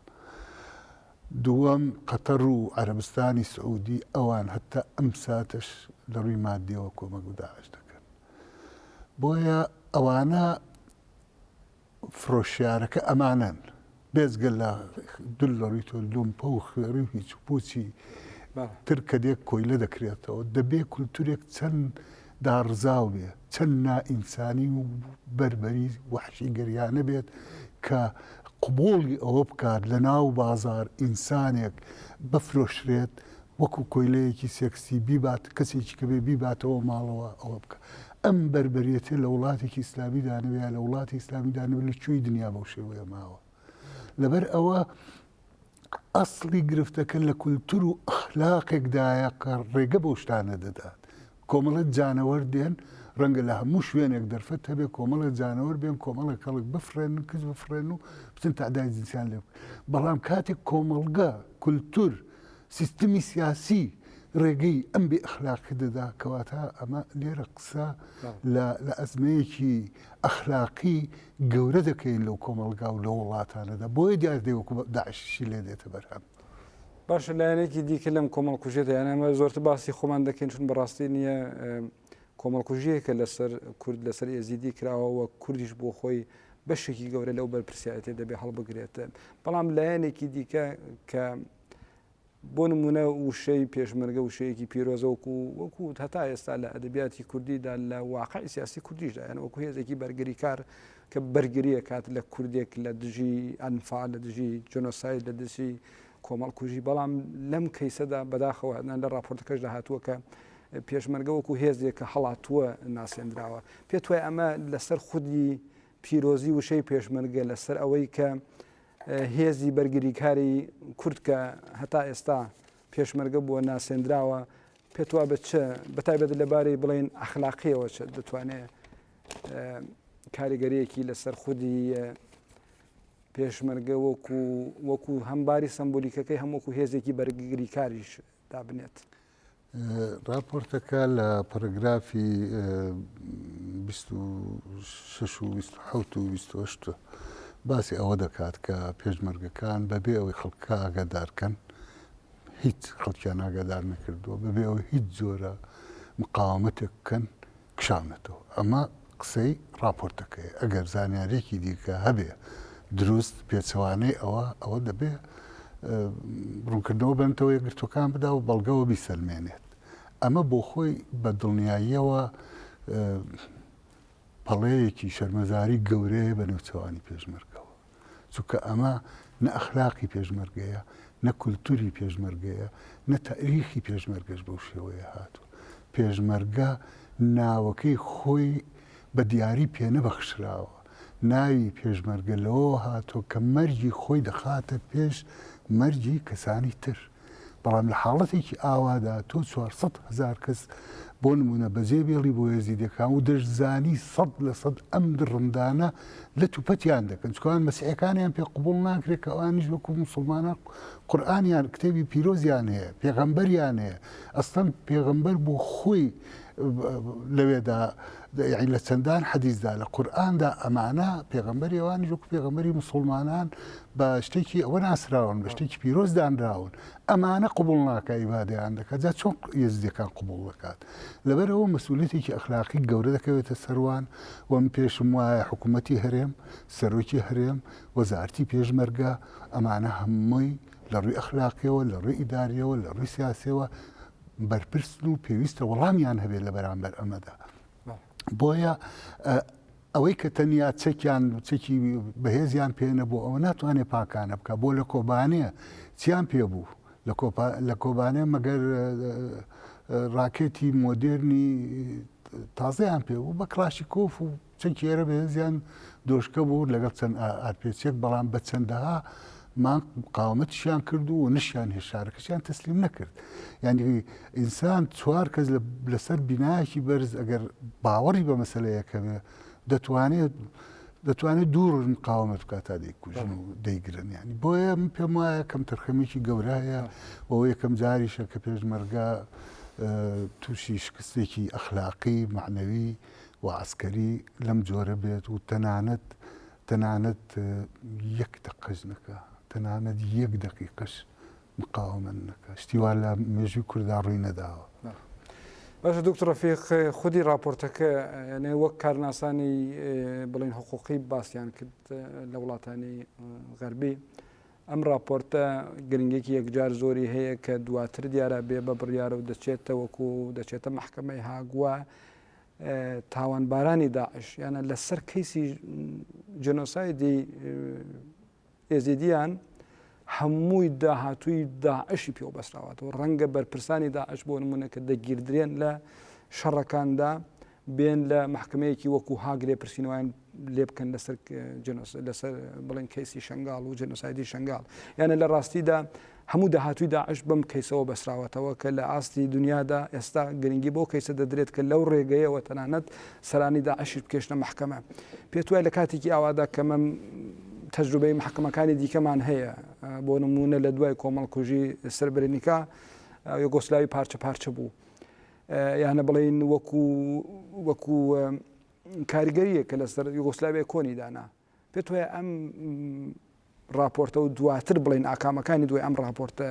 دووەم قەتەڕ و عەرەبستانی سعوودی ئەوان هەتا ئەم ساتەش لە ڕووی ماددیەوە کۆمەک بە داعش دەکەن بۆیە ئەوانە فرۆشیارەکە ئەمانەن، بێجگە لە دولەڕیت و لومپە و خوێڕی و هیچ و پووچی تر کە دێ کۆیلە دەکرێتەوە. دەبێ کولتوورێک چەند داڕزاو بێ، چەند نائینسانی و بەربەری وەحشیگەریانە بێت کە قبووڵی ئەوە بکات لە ناو بازاڕ ئینسانێک بفرۆشرێت وەکوو کۆیلەیەکی سێکسی بیبات، کەسێکی کە بێ بیباتەوە ماڵەوە ئەوە بکا. ئەم بەربەریەتە لە وڵاتێکی ئیسلامیدا نەبێ یا لە وڵاتی ئیسلامیدا نەبێ لە کوێی دنیا بەو شێوەیە ماوە لەبەر ئەوە ئەسڵی گرفتەکە لە کولتور و ئەخلاقێکدایە کە ڕێگە بەو شتانە دەدات کۆمەڵەت جانەوەر دێن ڕەنگە لە هەموو شوێنێک دەرفەت هەبێ کۆمەڵە جانەوەر بێن کۆمەڵە کەڵک بفرێن کز بفرێن و بچن تادای جنسیان لێ بەڵام کاتێک کۆمەڵگە کولتور و سیستمی سیاسی ڕێگەی ئەم بێ ئەخلاقی دەدا کەواتە ئەمە لێرە قسە لە ئەزمەیەکی ئەخلاقی گەورە دەکەین لەو کۆمەلگا و لە وڵاتانەدا بۆیە دیاردەی وەکو داعششی لێ دێتە بەرهەم باشە لایەنێکی دیکە لەم کۆمەڵکوژێتە یانەمە زۆرتر باسی خۆمان دەکەین چون بەڕاستی نییە کۆمەڵکوژیەکە لەسەر کورد لەسەر ئێزیدی کراوەوە کوردیش بۆ خۆی بەشێکی گەورە لەو بەرپرسیارەتێ دەبێ هەڵبگرێت بەڵام لایەنێکی دیکە کە بۆ نمونە وشەی پێشمەرگە وشەیەکی پیرۆزەوەکو وەکو هەتا ئێستا لە ئەدەبیاتی کوردیدا لە واقعی سیاسی کوردیشدا یان وەکو هێزێکی بەرگری کار کە بەرگریە کات لە کوردێک لە دژی ئەنفا لە دژی جۆنۆسای لە دژی کۆمەڵکوژی بەڵام لەم کەیسەدا بەداخەوە هەدان لە راپۆرتەکەشدا هاتووە کە پێشمەرگە وەکو هێزێک کە هەڵاتووە ناسێندراوە. پێت وایە ئەمە لەسەر خودی پیرۆزی وشەی پێشمەرگە لەسەر ئەوەی کە هێزی بەرگریکاری کورد کە هەتا ئێستا پێشمەرگە بووە ناسێندراوە پێت وا بە چ بەتایبەت لەبارەی بڵێن ئەخلاقیەوە چ دەتوانێت کاریگەریەکی لەسەر خودی پێشمەرگە وەکو وەکو هەمباری سمبولیکەکەی هەمووکو هێزێکی بەرگگری کاریش دابنێت. ڕاپۆرتەکە لە پەرەگرافی بیست و شەش و بیست و حەوت و بیست و هەشت باسی ئەوە دەکات کە پێشمەرگەکان بەبێ ئەوەی خەڵکەکە ئاگادار کەن هیچ خەڵکیان ئاگادار نەکردووە بەبێ ئەوەی هیچ جۆرە مقاومەتێک بکەن کشاونەتەوە. ئەمە قسەی ڕاپۆرتەکەیە. ئەگەر زانیارییەکی دیکە هەبێ دروست پێچەوانەی ئەوە، ئەوە دەبێ ڕوونکردنەوە بە نەتەوە یەکگرتووەکان بدا و بەڵگەوە بیسەلمێنێت. ئەمە بۆخۆی بە دڵنیاییەوە پەڵەیەکی شەرمەزاری گەورەیە بە نێوچەوانی پێشمەرگەوە. چونکە ئەمە نە ئەخلاقی پێشمەرگەیە، نە کولتووری پێشمەرگەیە، نە تاریخی پێشمەرگەش بەو شێوەیە هاتووە. پێشمەرگە ناوەکەی خۆی بە دیاری پێنەبەخشراوە. ناوی پێشمەرگە لەوەوە هاتووە کە مەرگی خۆی دەخاتە پێش مەرگی کەسانی تر. بەڵام لە حاڵەتێکی ئاوادا تۆ چوار سەد هەزار کەس بۆ نمونە بەجێ بێڵی بۆ یەزیدەکان و دەشزانی سەد لە سەد ئەم دڕندانە لە توپەتیان دەکەن چکوان مەسیحەکانیان پێ قوبول ناکرێت کە ئەوانیش وەکو مسلمانە قورآانیان کتێبی پیرۆزیان هەیە پێغەمبەریان هەیە ئەستەن پێغەمبەر بۆ خۆی لەوێدا یەعنی لە چەندان حەدیسدا لە قورئاندا ئەمانە پێغەمبەری ئەوانیش وەکو پێغەمبەری موسڵمانان بە شتێکی ئەوە ناسراون بە شتێکی پیرۆز دانراون ئەمانە قبول ناکە ئیبادەیان دەکات جا چۆن یزدەکان قبول دەکات لەبەرەوە مەسئولێتێکی ئەخلاقی گەورە دەکەوێتە سەروان وەم پێشم وایە حکوومەتی هەرێم سەرۆکی هەرێم وەزارتی پێشمەرگە ئەمانە هەمووی لە ڕووی ئەخلاقیەوە لە ڕووی ئیداریەوە لە ڕووی سیاسەوە بەرپرسن و پێویستە وەڵامیان هەبێت لە بەرامبەر ئەمەدا بۆیە ئەوەی کە تەنیا چەکیان چەکی بەهێزیان پێێنە بۆ ئەوە ناتوانێت پاکانە بکە بۆ لە کۆبانەیە چیان پێ بوو لە کۆبانێ مەگەر ڕاکێتی مۆدررنی تازەیان پێ بوو بە کلاشی کۆف و چەند کێرە بەهێزیان دۆشکە بوو لەگەڵ چەند ئارپێچێک بەڵام بە چەندەها مان قاومەتیشیان کرد و نشیان هێشارەکەشیان تەسلیم نەکرد یعنی ئینسان چوار کەس لەسەر بینایەکی بەرز ئەگەر باوەڕی بە مەسلەیەکەوێ دەتوانێت دەتوانێت دوورن قاومەت بکات تا دەیکوژن و دەیگرن ینی بۆیە من پێم وایە کەم تەرخەمێکی گەورەیە بۆ یەکەم جاریشە کە پێشمەرگە تووشی شکستێکی ئەخلاقی معنەوی و عەسکەری لەم جۆرە بێت و تەنانەت تەنانەت یەک دەقەش نەکا تەنانەت یەک دەقیقەش مقاومەن نەکە شتیوا لە مێژوی کوردا ڕووی نەداوە باشە دکتۆر ڕفیق خودی راپۆرتەکە یعنی وەک کارناسانی بڵین حقوقی باسییان کرد لە وڵاتانی غەربی ئەم راپۆرتە گرنگێکی یەکجار زۆری هەیە کە دواتر دیارە بێ بە بڕیارە و دەچێتەوەکو دەچێتە محکمەی هاگووە تاوانبارانی داعش یانە لەسەر کەیسی جنۆسایدی ئێزیدیان هەمووی داهاتووی داعشی پێوە بەسراوەتەوە ڕەنگە بەرپرسانی داعش بۆ نمونە کە دەگیردرێن لە شەڕەکاندا بێن لە محکمەیەکی وەکو هاگرێ پرسینەوەیان لێبکەن لەسەر لەسەر بڵێن کەیسی شنگال و جنۆسایدی شنگال یانە لە ڕاستیدا هەموو داهاتوی داعش بم کەیسەوە بەسراوەتەوە کە لە ئاستی دنیادا ئێستا گرنگی بۆ کەیسە دەدرێت کە لەو ڕێگەیەوە تەنانەت سەرانی داعشش بکێشنە محکمە پێت وای لە کاتێکی ئاوادا کەمە تەجروبەی محکمەکانی دیکەمان هەیە بۆ نمونە لە دوای کۆمەڵکوژی سربرنیکا یۆگۆسلاوی پارچە پارچە بوو یانە بڵین وەکو وەکو کاریگەرییەک کە لەسەر یوگۆسلاڤیای کۆنی دانا. پێت وایە ئەم ڕاپۆرتە و دواتر بڵێن ئاکامەکانی دوای ئەم ڕاپۆرتە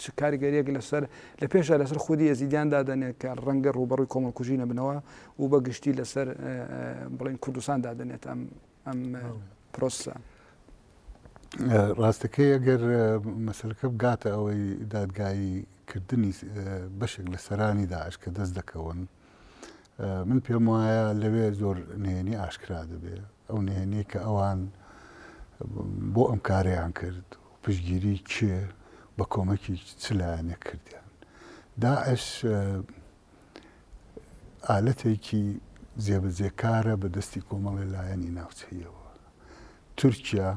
چ کاریگەریەک لەسەر لە پێشە لەسەر خودی ئێزیدیان دادەنێت کە ڕەنگە ڕوبەڕوی کۆمەڵکوژی نەبنەوە و بە گشتی لەسەر بڵین کوردستان دادەنێت ئەم ئەم پرۆسە. ڕاستەکەی ئەگەر مەسلەکە بگاتە ئەوەی دادگایی کردنی بەشێک لە سەرانی داعش کە دەست دەکەون من پێم وایە لەوێ زۆر نهێنی ئاشکرا دەبێ ئەو نهێنی کە ئەوان بۆ ئەم کارەیان کرد پشگیری کێ بە کۆمەکی چ لایەنە کردیان داعش ئالەتێکی جێبەجێکارە بە دەستی کۆمەڵی لایەنی ناوچەیەوە تورکیا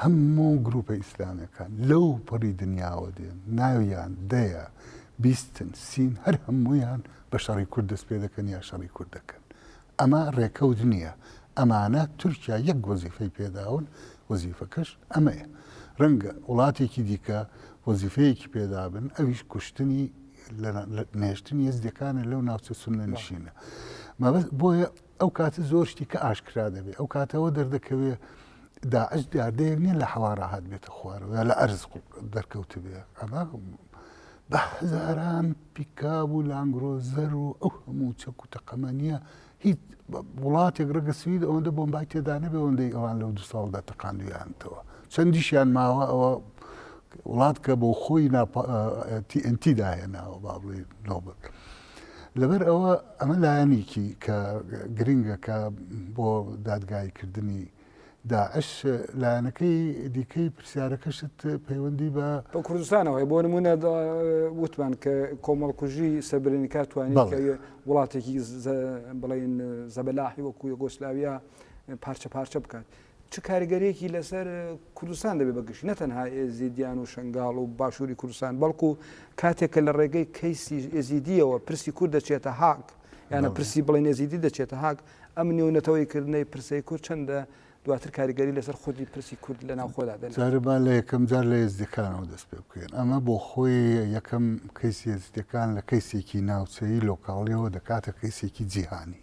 هەموو گروپە ئیسلامیەکان لەو پەڕی دنیاوە دێن ناویان دەیە بیستن سین هەر هەموویان بە شەڕی کورد دەست پێ دەکەن یا شەڕی کورد دەکەن ئەمە ڕێکەوت نییە ئەمانە تورکیا یەک وەزیفەی پێداون وەزیفەکەش ئەمەیە ڕەنگە وڵاتێکی دیکە وەزیفەیەکی پێدابن ئەویش کوشتنی نێشتنی یزدەکانە لەو ناوچە سنە نشینە مەبەست بۆیە ئەو کاتە زۆر شتی کە ئاشکرا دەبێت ئەو کاتەوە دەردەکەوێت داعش دیاردەیەک نیە لە حەوا ڕاهات بێتە خوارەوە یا لە ئەرز دەرکەوت بێ ئەمە بە هەزاران پیکاب و لانگرۆزەر و ئەو هەموو چەک و تەقەمە نیە هیچ وڵاتێک ڕگە سوید ئەوەندە بۆم بای تێدانە بێ ئەوەندەی ئەوان لەو دو ساڵدا تەقاندویانتەوە چەندیشیان ماوە ئەوە وڵات کە بۆ خۆی TNT داهێناوە با بڵێ نۆبەت. لەبەر ئەوە ئەمە لایەنێکی کە گرنگە کە بۆ دادگایی کردنی داعش لایەنەکەی دیکەی پرسیارەکەشت پەیوەندی بە بە کوردستانەوەی بۆ نمونە وتمان کە کۆمەڵکوژی سەبرێنی کات توانین وڵاتێکی بڵین زەبەلاحی وەکو یۆگۆسلاویا پارچە پارچە بکات چ کاریگەریەکی لەسەر کوردستان دەبێت بە گشتی نەتەنها ئێزیدیان و شنگاڵ و باشووری کوردستان بەڵکو کاتێک کە لە ڕێگەی کەیسی ئێزیدیەوە پرسی کورد دەچێتە هاگ یانە پرسی بڵێن ئێزیدی دەچێتە هاگ ئەم نێونەتەوەی کردنەی پرسەی کورد چەندە دواتر کاریگەری لەسەر خودی پرسی کورد لە ناوخۆدا دەن جاربا لە یەکەم جار لە ئێزدەکانەوە دەست پێ بکەین ئەمە بۆ خۆی یەکەم کەیسی ئێزدەکان لە کەیسێکی ناوچەیی لۆکاڵیەوە دەکاتە کەیسێکی جیهانی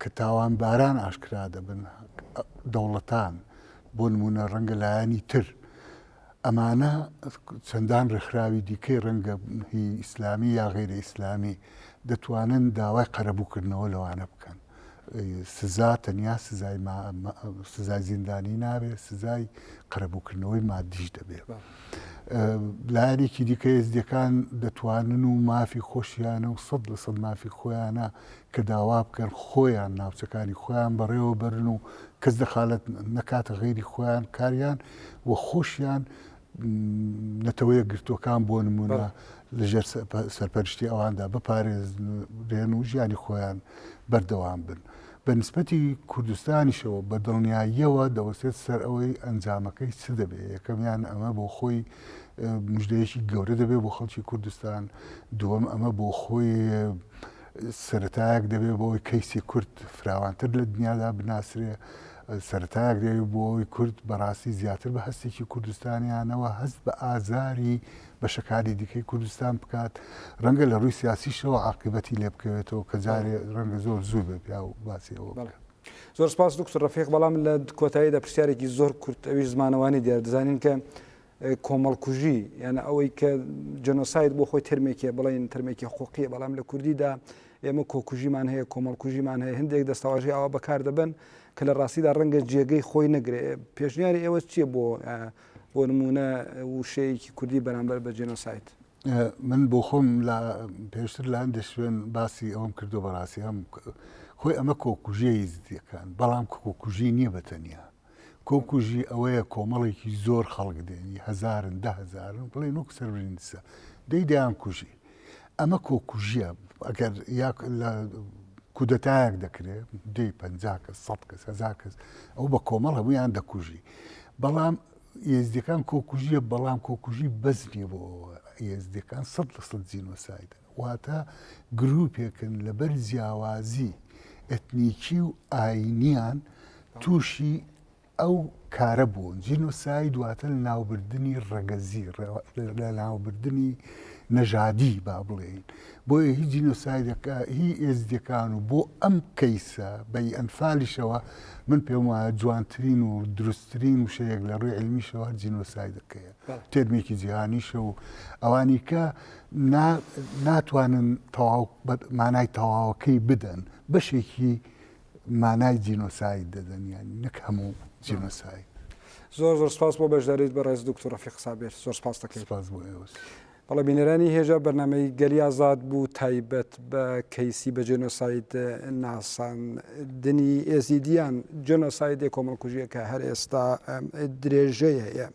کە تاوانباران ئاشکرا دەبن، دەوڵەتان، بۆ نموونە ڕەنگە لایەنی تر، ئەمانە چەندان ڕێکخراوی دیکەی ڕەنگە هی ئیسلامی یا غەیرە ئیسلامی دەتوانن داوای قەرەبووکردنەوە لەوانە بکەن. سزا تەنیا سزای سزای زیندانی نابێت، سزای قەرەبووکردنەوەی مادیش دەبێت. لایەنێکی دیکە ئێزدیەکان دەتوانن و مافی خۆشیانە و سەد لە سەد مافی خۆیانە کە داوا بکەن خۆیان ناوچەکانی خۆیان بەڕێوە بەرن و کەس دەخالەت نەکاتە غەیری خۆیان کاریان و خۆشیان نەتەوەیە گرتووەکان بۆ نمونە لەژێر سەرپەرشتی ئەواندا بپارێزرێن و ژیانی خۆیان بەردەوام بن. بە نسبەتی کوردستانیشەوە بە دڵنیاییەوە دەوەستێت سەر ئەوەی ئەنجامەکەی چ دەبێ یەکەمیان ئەمە بۆ خۆی مژدەیەکی گەورە دەبێت بۆ خەڵکی کوردستان دووەم ئەمە بۆ خۆی سەرەتایەک دەبێت بۆ ئەوەی کەیسی کورد فراوانتر لە دنیادا بناسرێ سەرەتایەک دەوێت بۆ ئەوەی کورد بەڕاستی زیاتر بە هەستێکی کوردستانیانەوە هەست بە ئازاری بەشەکاری دیکەی کوردستان بکات ڕەنگە لە ڕووی سیاسیشەوە عقیبەتی لێ بکەوێتەوە کە جارێ ڕەنگە زۆر زوو بێ پیا و باسی ئەوە بکات. زۆر سپاس دکتۆر ڕەفیق بەڵام لە کۆتاییدا پرسیارێکی زۆر کورت ئەویش زمانەوانی دیار دەزانین کە کۆمەڵکوژی یانە ئەوەی کە جەنۆساید بۆ خۆی ترمێکێ بڵین ترمێکی حقوقیە بەڵام لە کوردیدا ئێمە کۆکوژیمان هەیە کۆمەڵکوژیمان هەیە هەندێک دەستەواژی ئاوا بەکار دەبن کە لە ڕاستیدا ڕەنگە جێگەی خۆی نەگرێ پێشنیاری ئێوە چییە بۆ بۆ نمونە وشەیەکی کوردی بەرامبەر بە جێنۆسایت من بۆ خۆم لە پێشتر لە هەندێک شوێن باسی ئەوم کردو بەڕاستی ئەم خۆی ئەمە کۆکوژیە یزدیەکان بەڵام کۆکوژی نییە بەتەنیا کۆکوژی ئەوەیە کۆمەڵێکی زۆر خەڵک دێنی هەزارن دە هەزارن بڵێ نوک سەرنیسە دەی دەیان کوژی ئەمە کۆکوژیە ئەگەر لە کودەتایەک دەکرێت دی پ کەس سە کەس هزار کەس ئەو بە کۆمەڵ هەمویان دەکوژی بەڵام یزدەکان کۆکوژیە بەڵام کۆکوژی بەزنیە بۆ یزدەکان سە لە سە جینۆسایدن واتە گرووپێکن لەبەر جیاوازی ئەتنیکی و ئایینییان تووشی ئەو کارە بوون. جینۆساید واتە لەناوبردنی ڕەگەزی، لەناوبردنی نەژادی با بڵێین. بۆیە هی جینۆسایدەکە هی ئێزدییەکان و بۆ ئەم کەیسە بەی ئەنفالیشەوە من پێم وایە جوانترین و دروستترین وشەیەک لە ڕووی عیلمیشەوە جینۆسایدەکەیە. تێرمێکی جیهانیشە و ئەوانیکە نا ناتوانن تەواو بە مانای تەواوەکەی بدەن بەشێکی مانای جینۆساید دەدەن یانی نەک هەموو جینۆساید. زۆر زۆر سپاس بۆ بەشداریت بە ڕێز دکتۆر ڕەفیق سابیر زۆر سپاس دەکەین سپاس بۆ ئێوەش بەڵێ بینەرانی هێژا بەرنمەی گەلی ئازاد بوو تایبەت بە کەیسی بە جێنۆساید ناساندنی ئێزیدیان جۆنۆسایدێ کۆمەڵکوژیە کە هەر ئێستا درێژەیە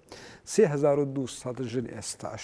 3200 ژن ئێستاش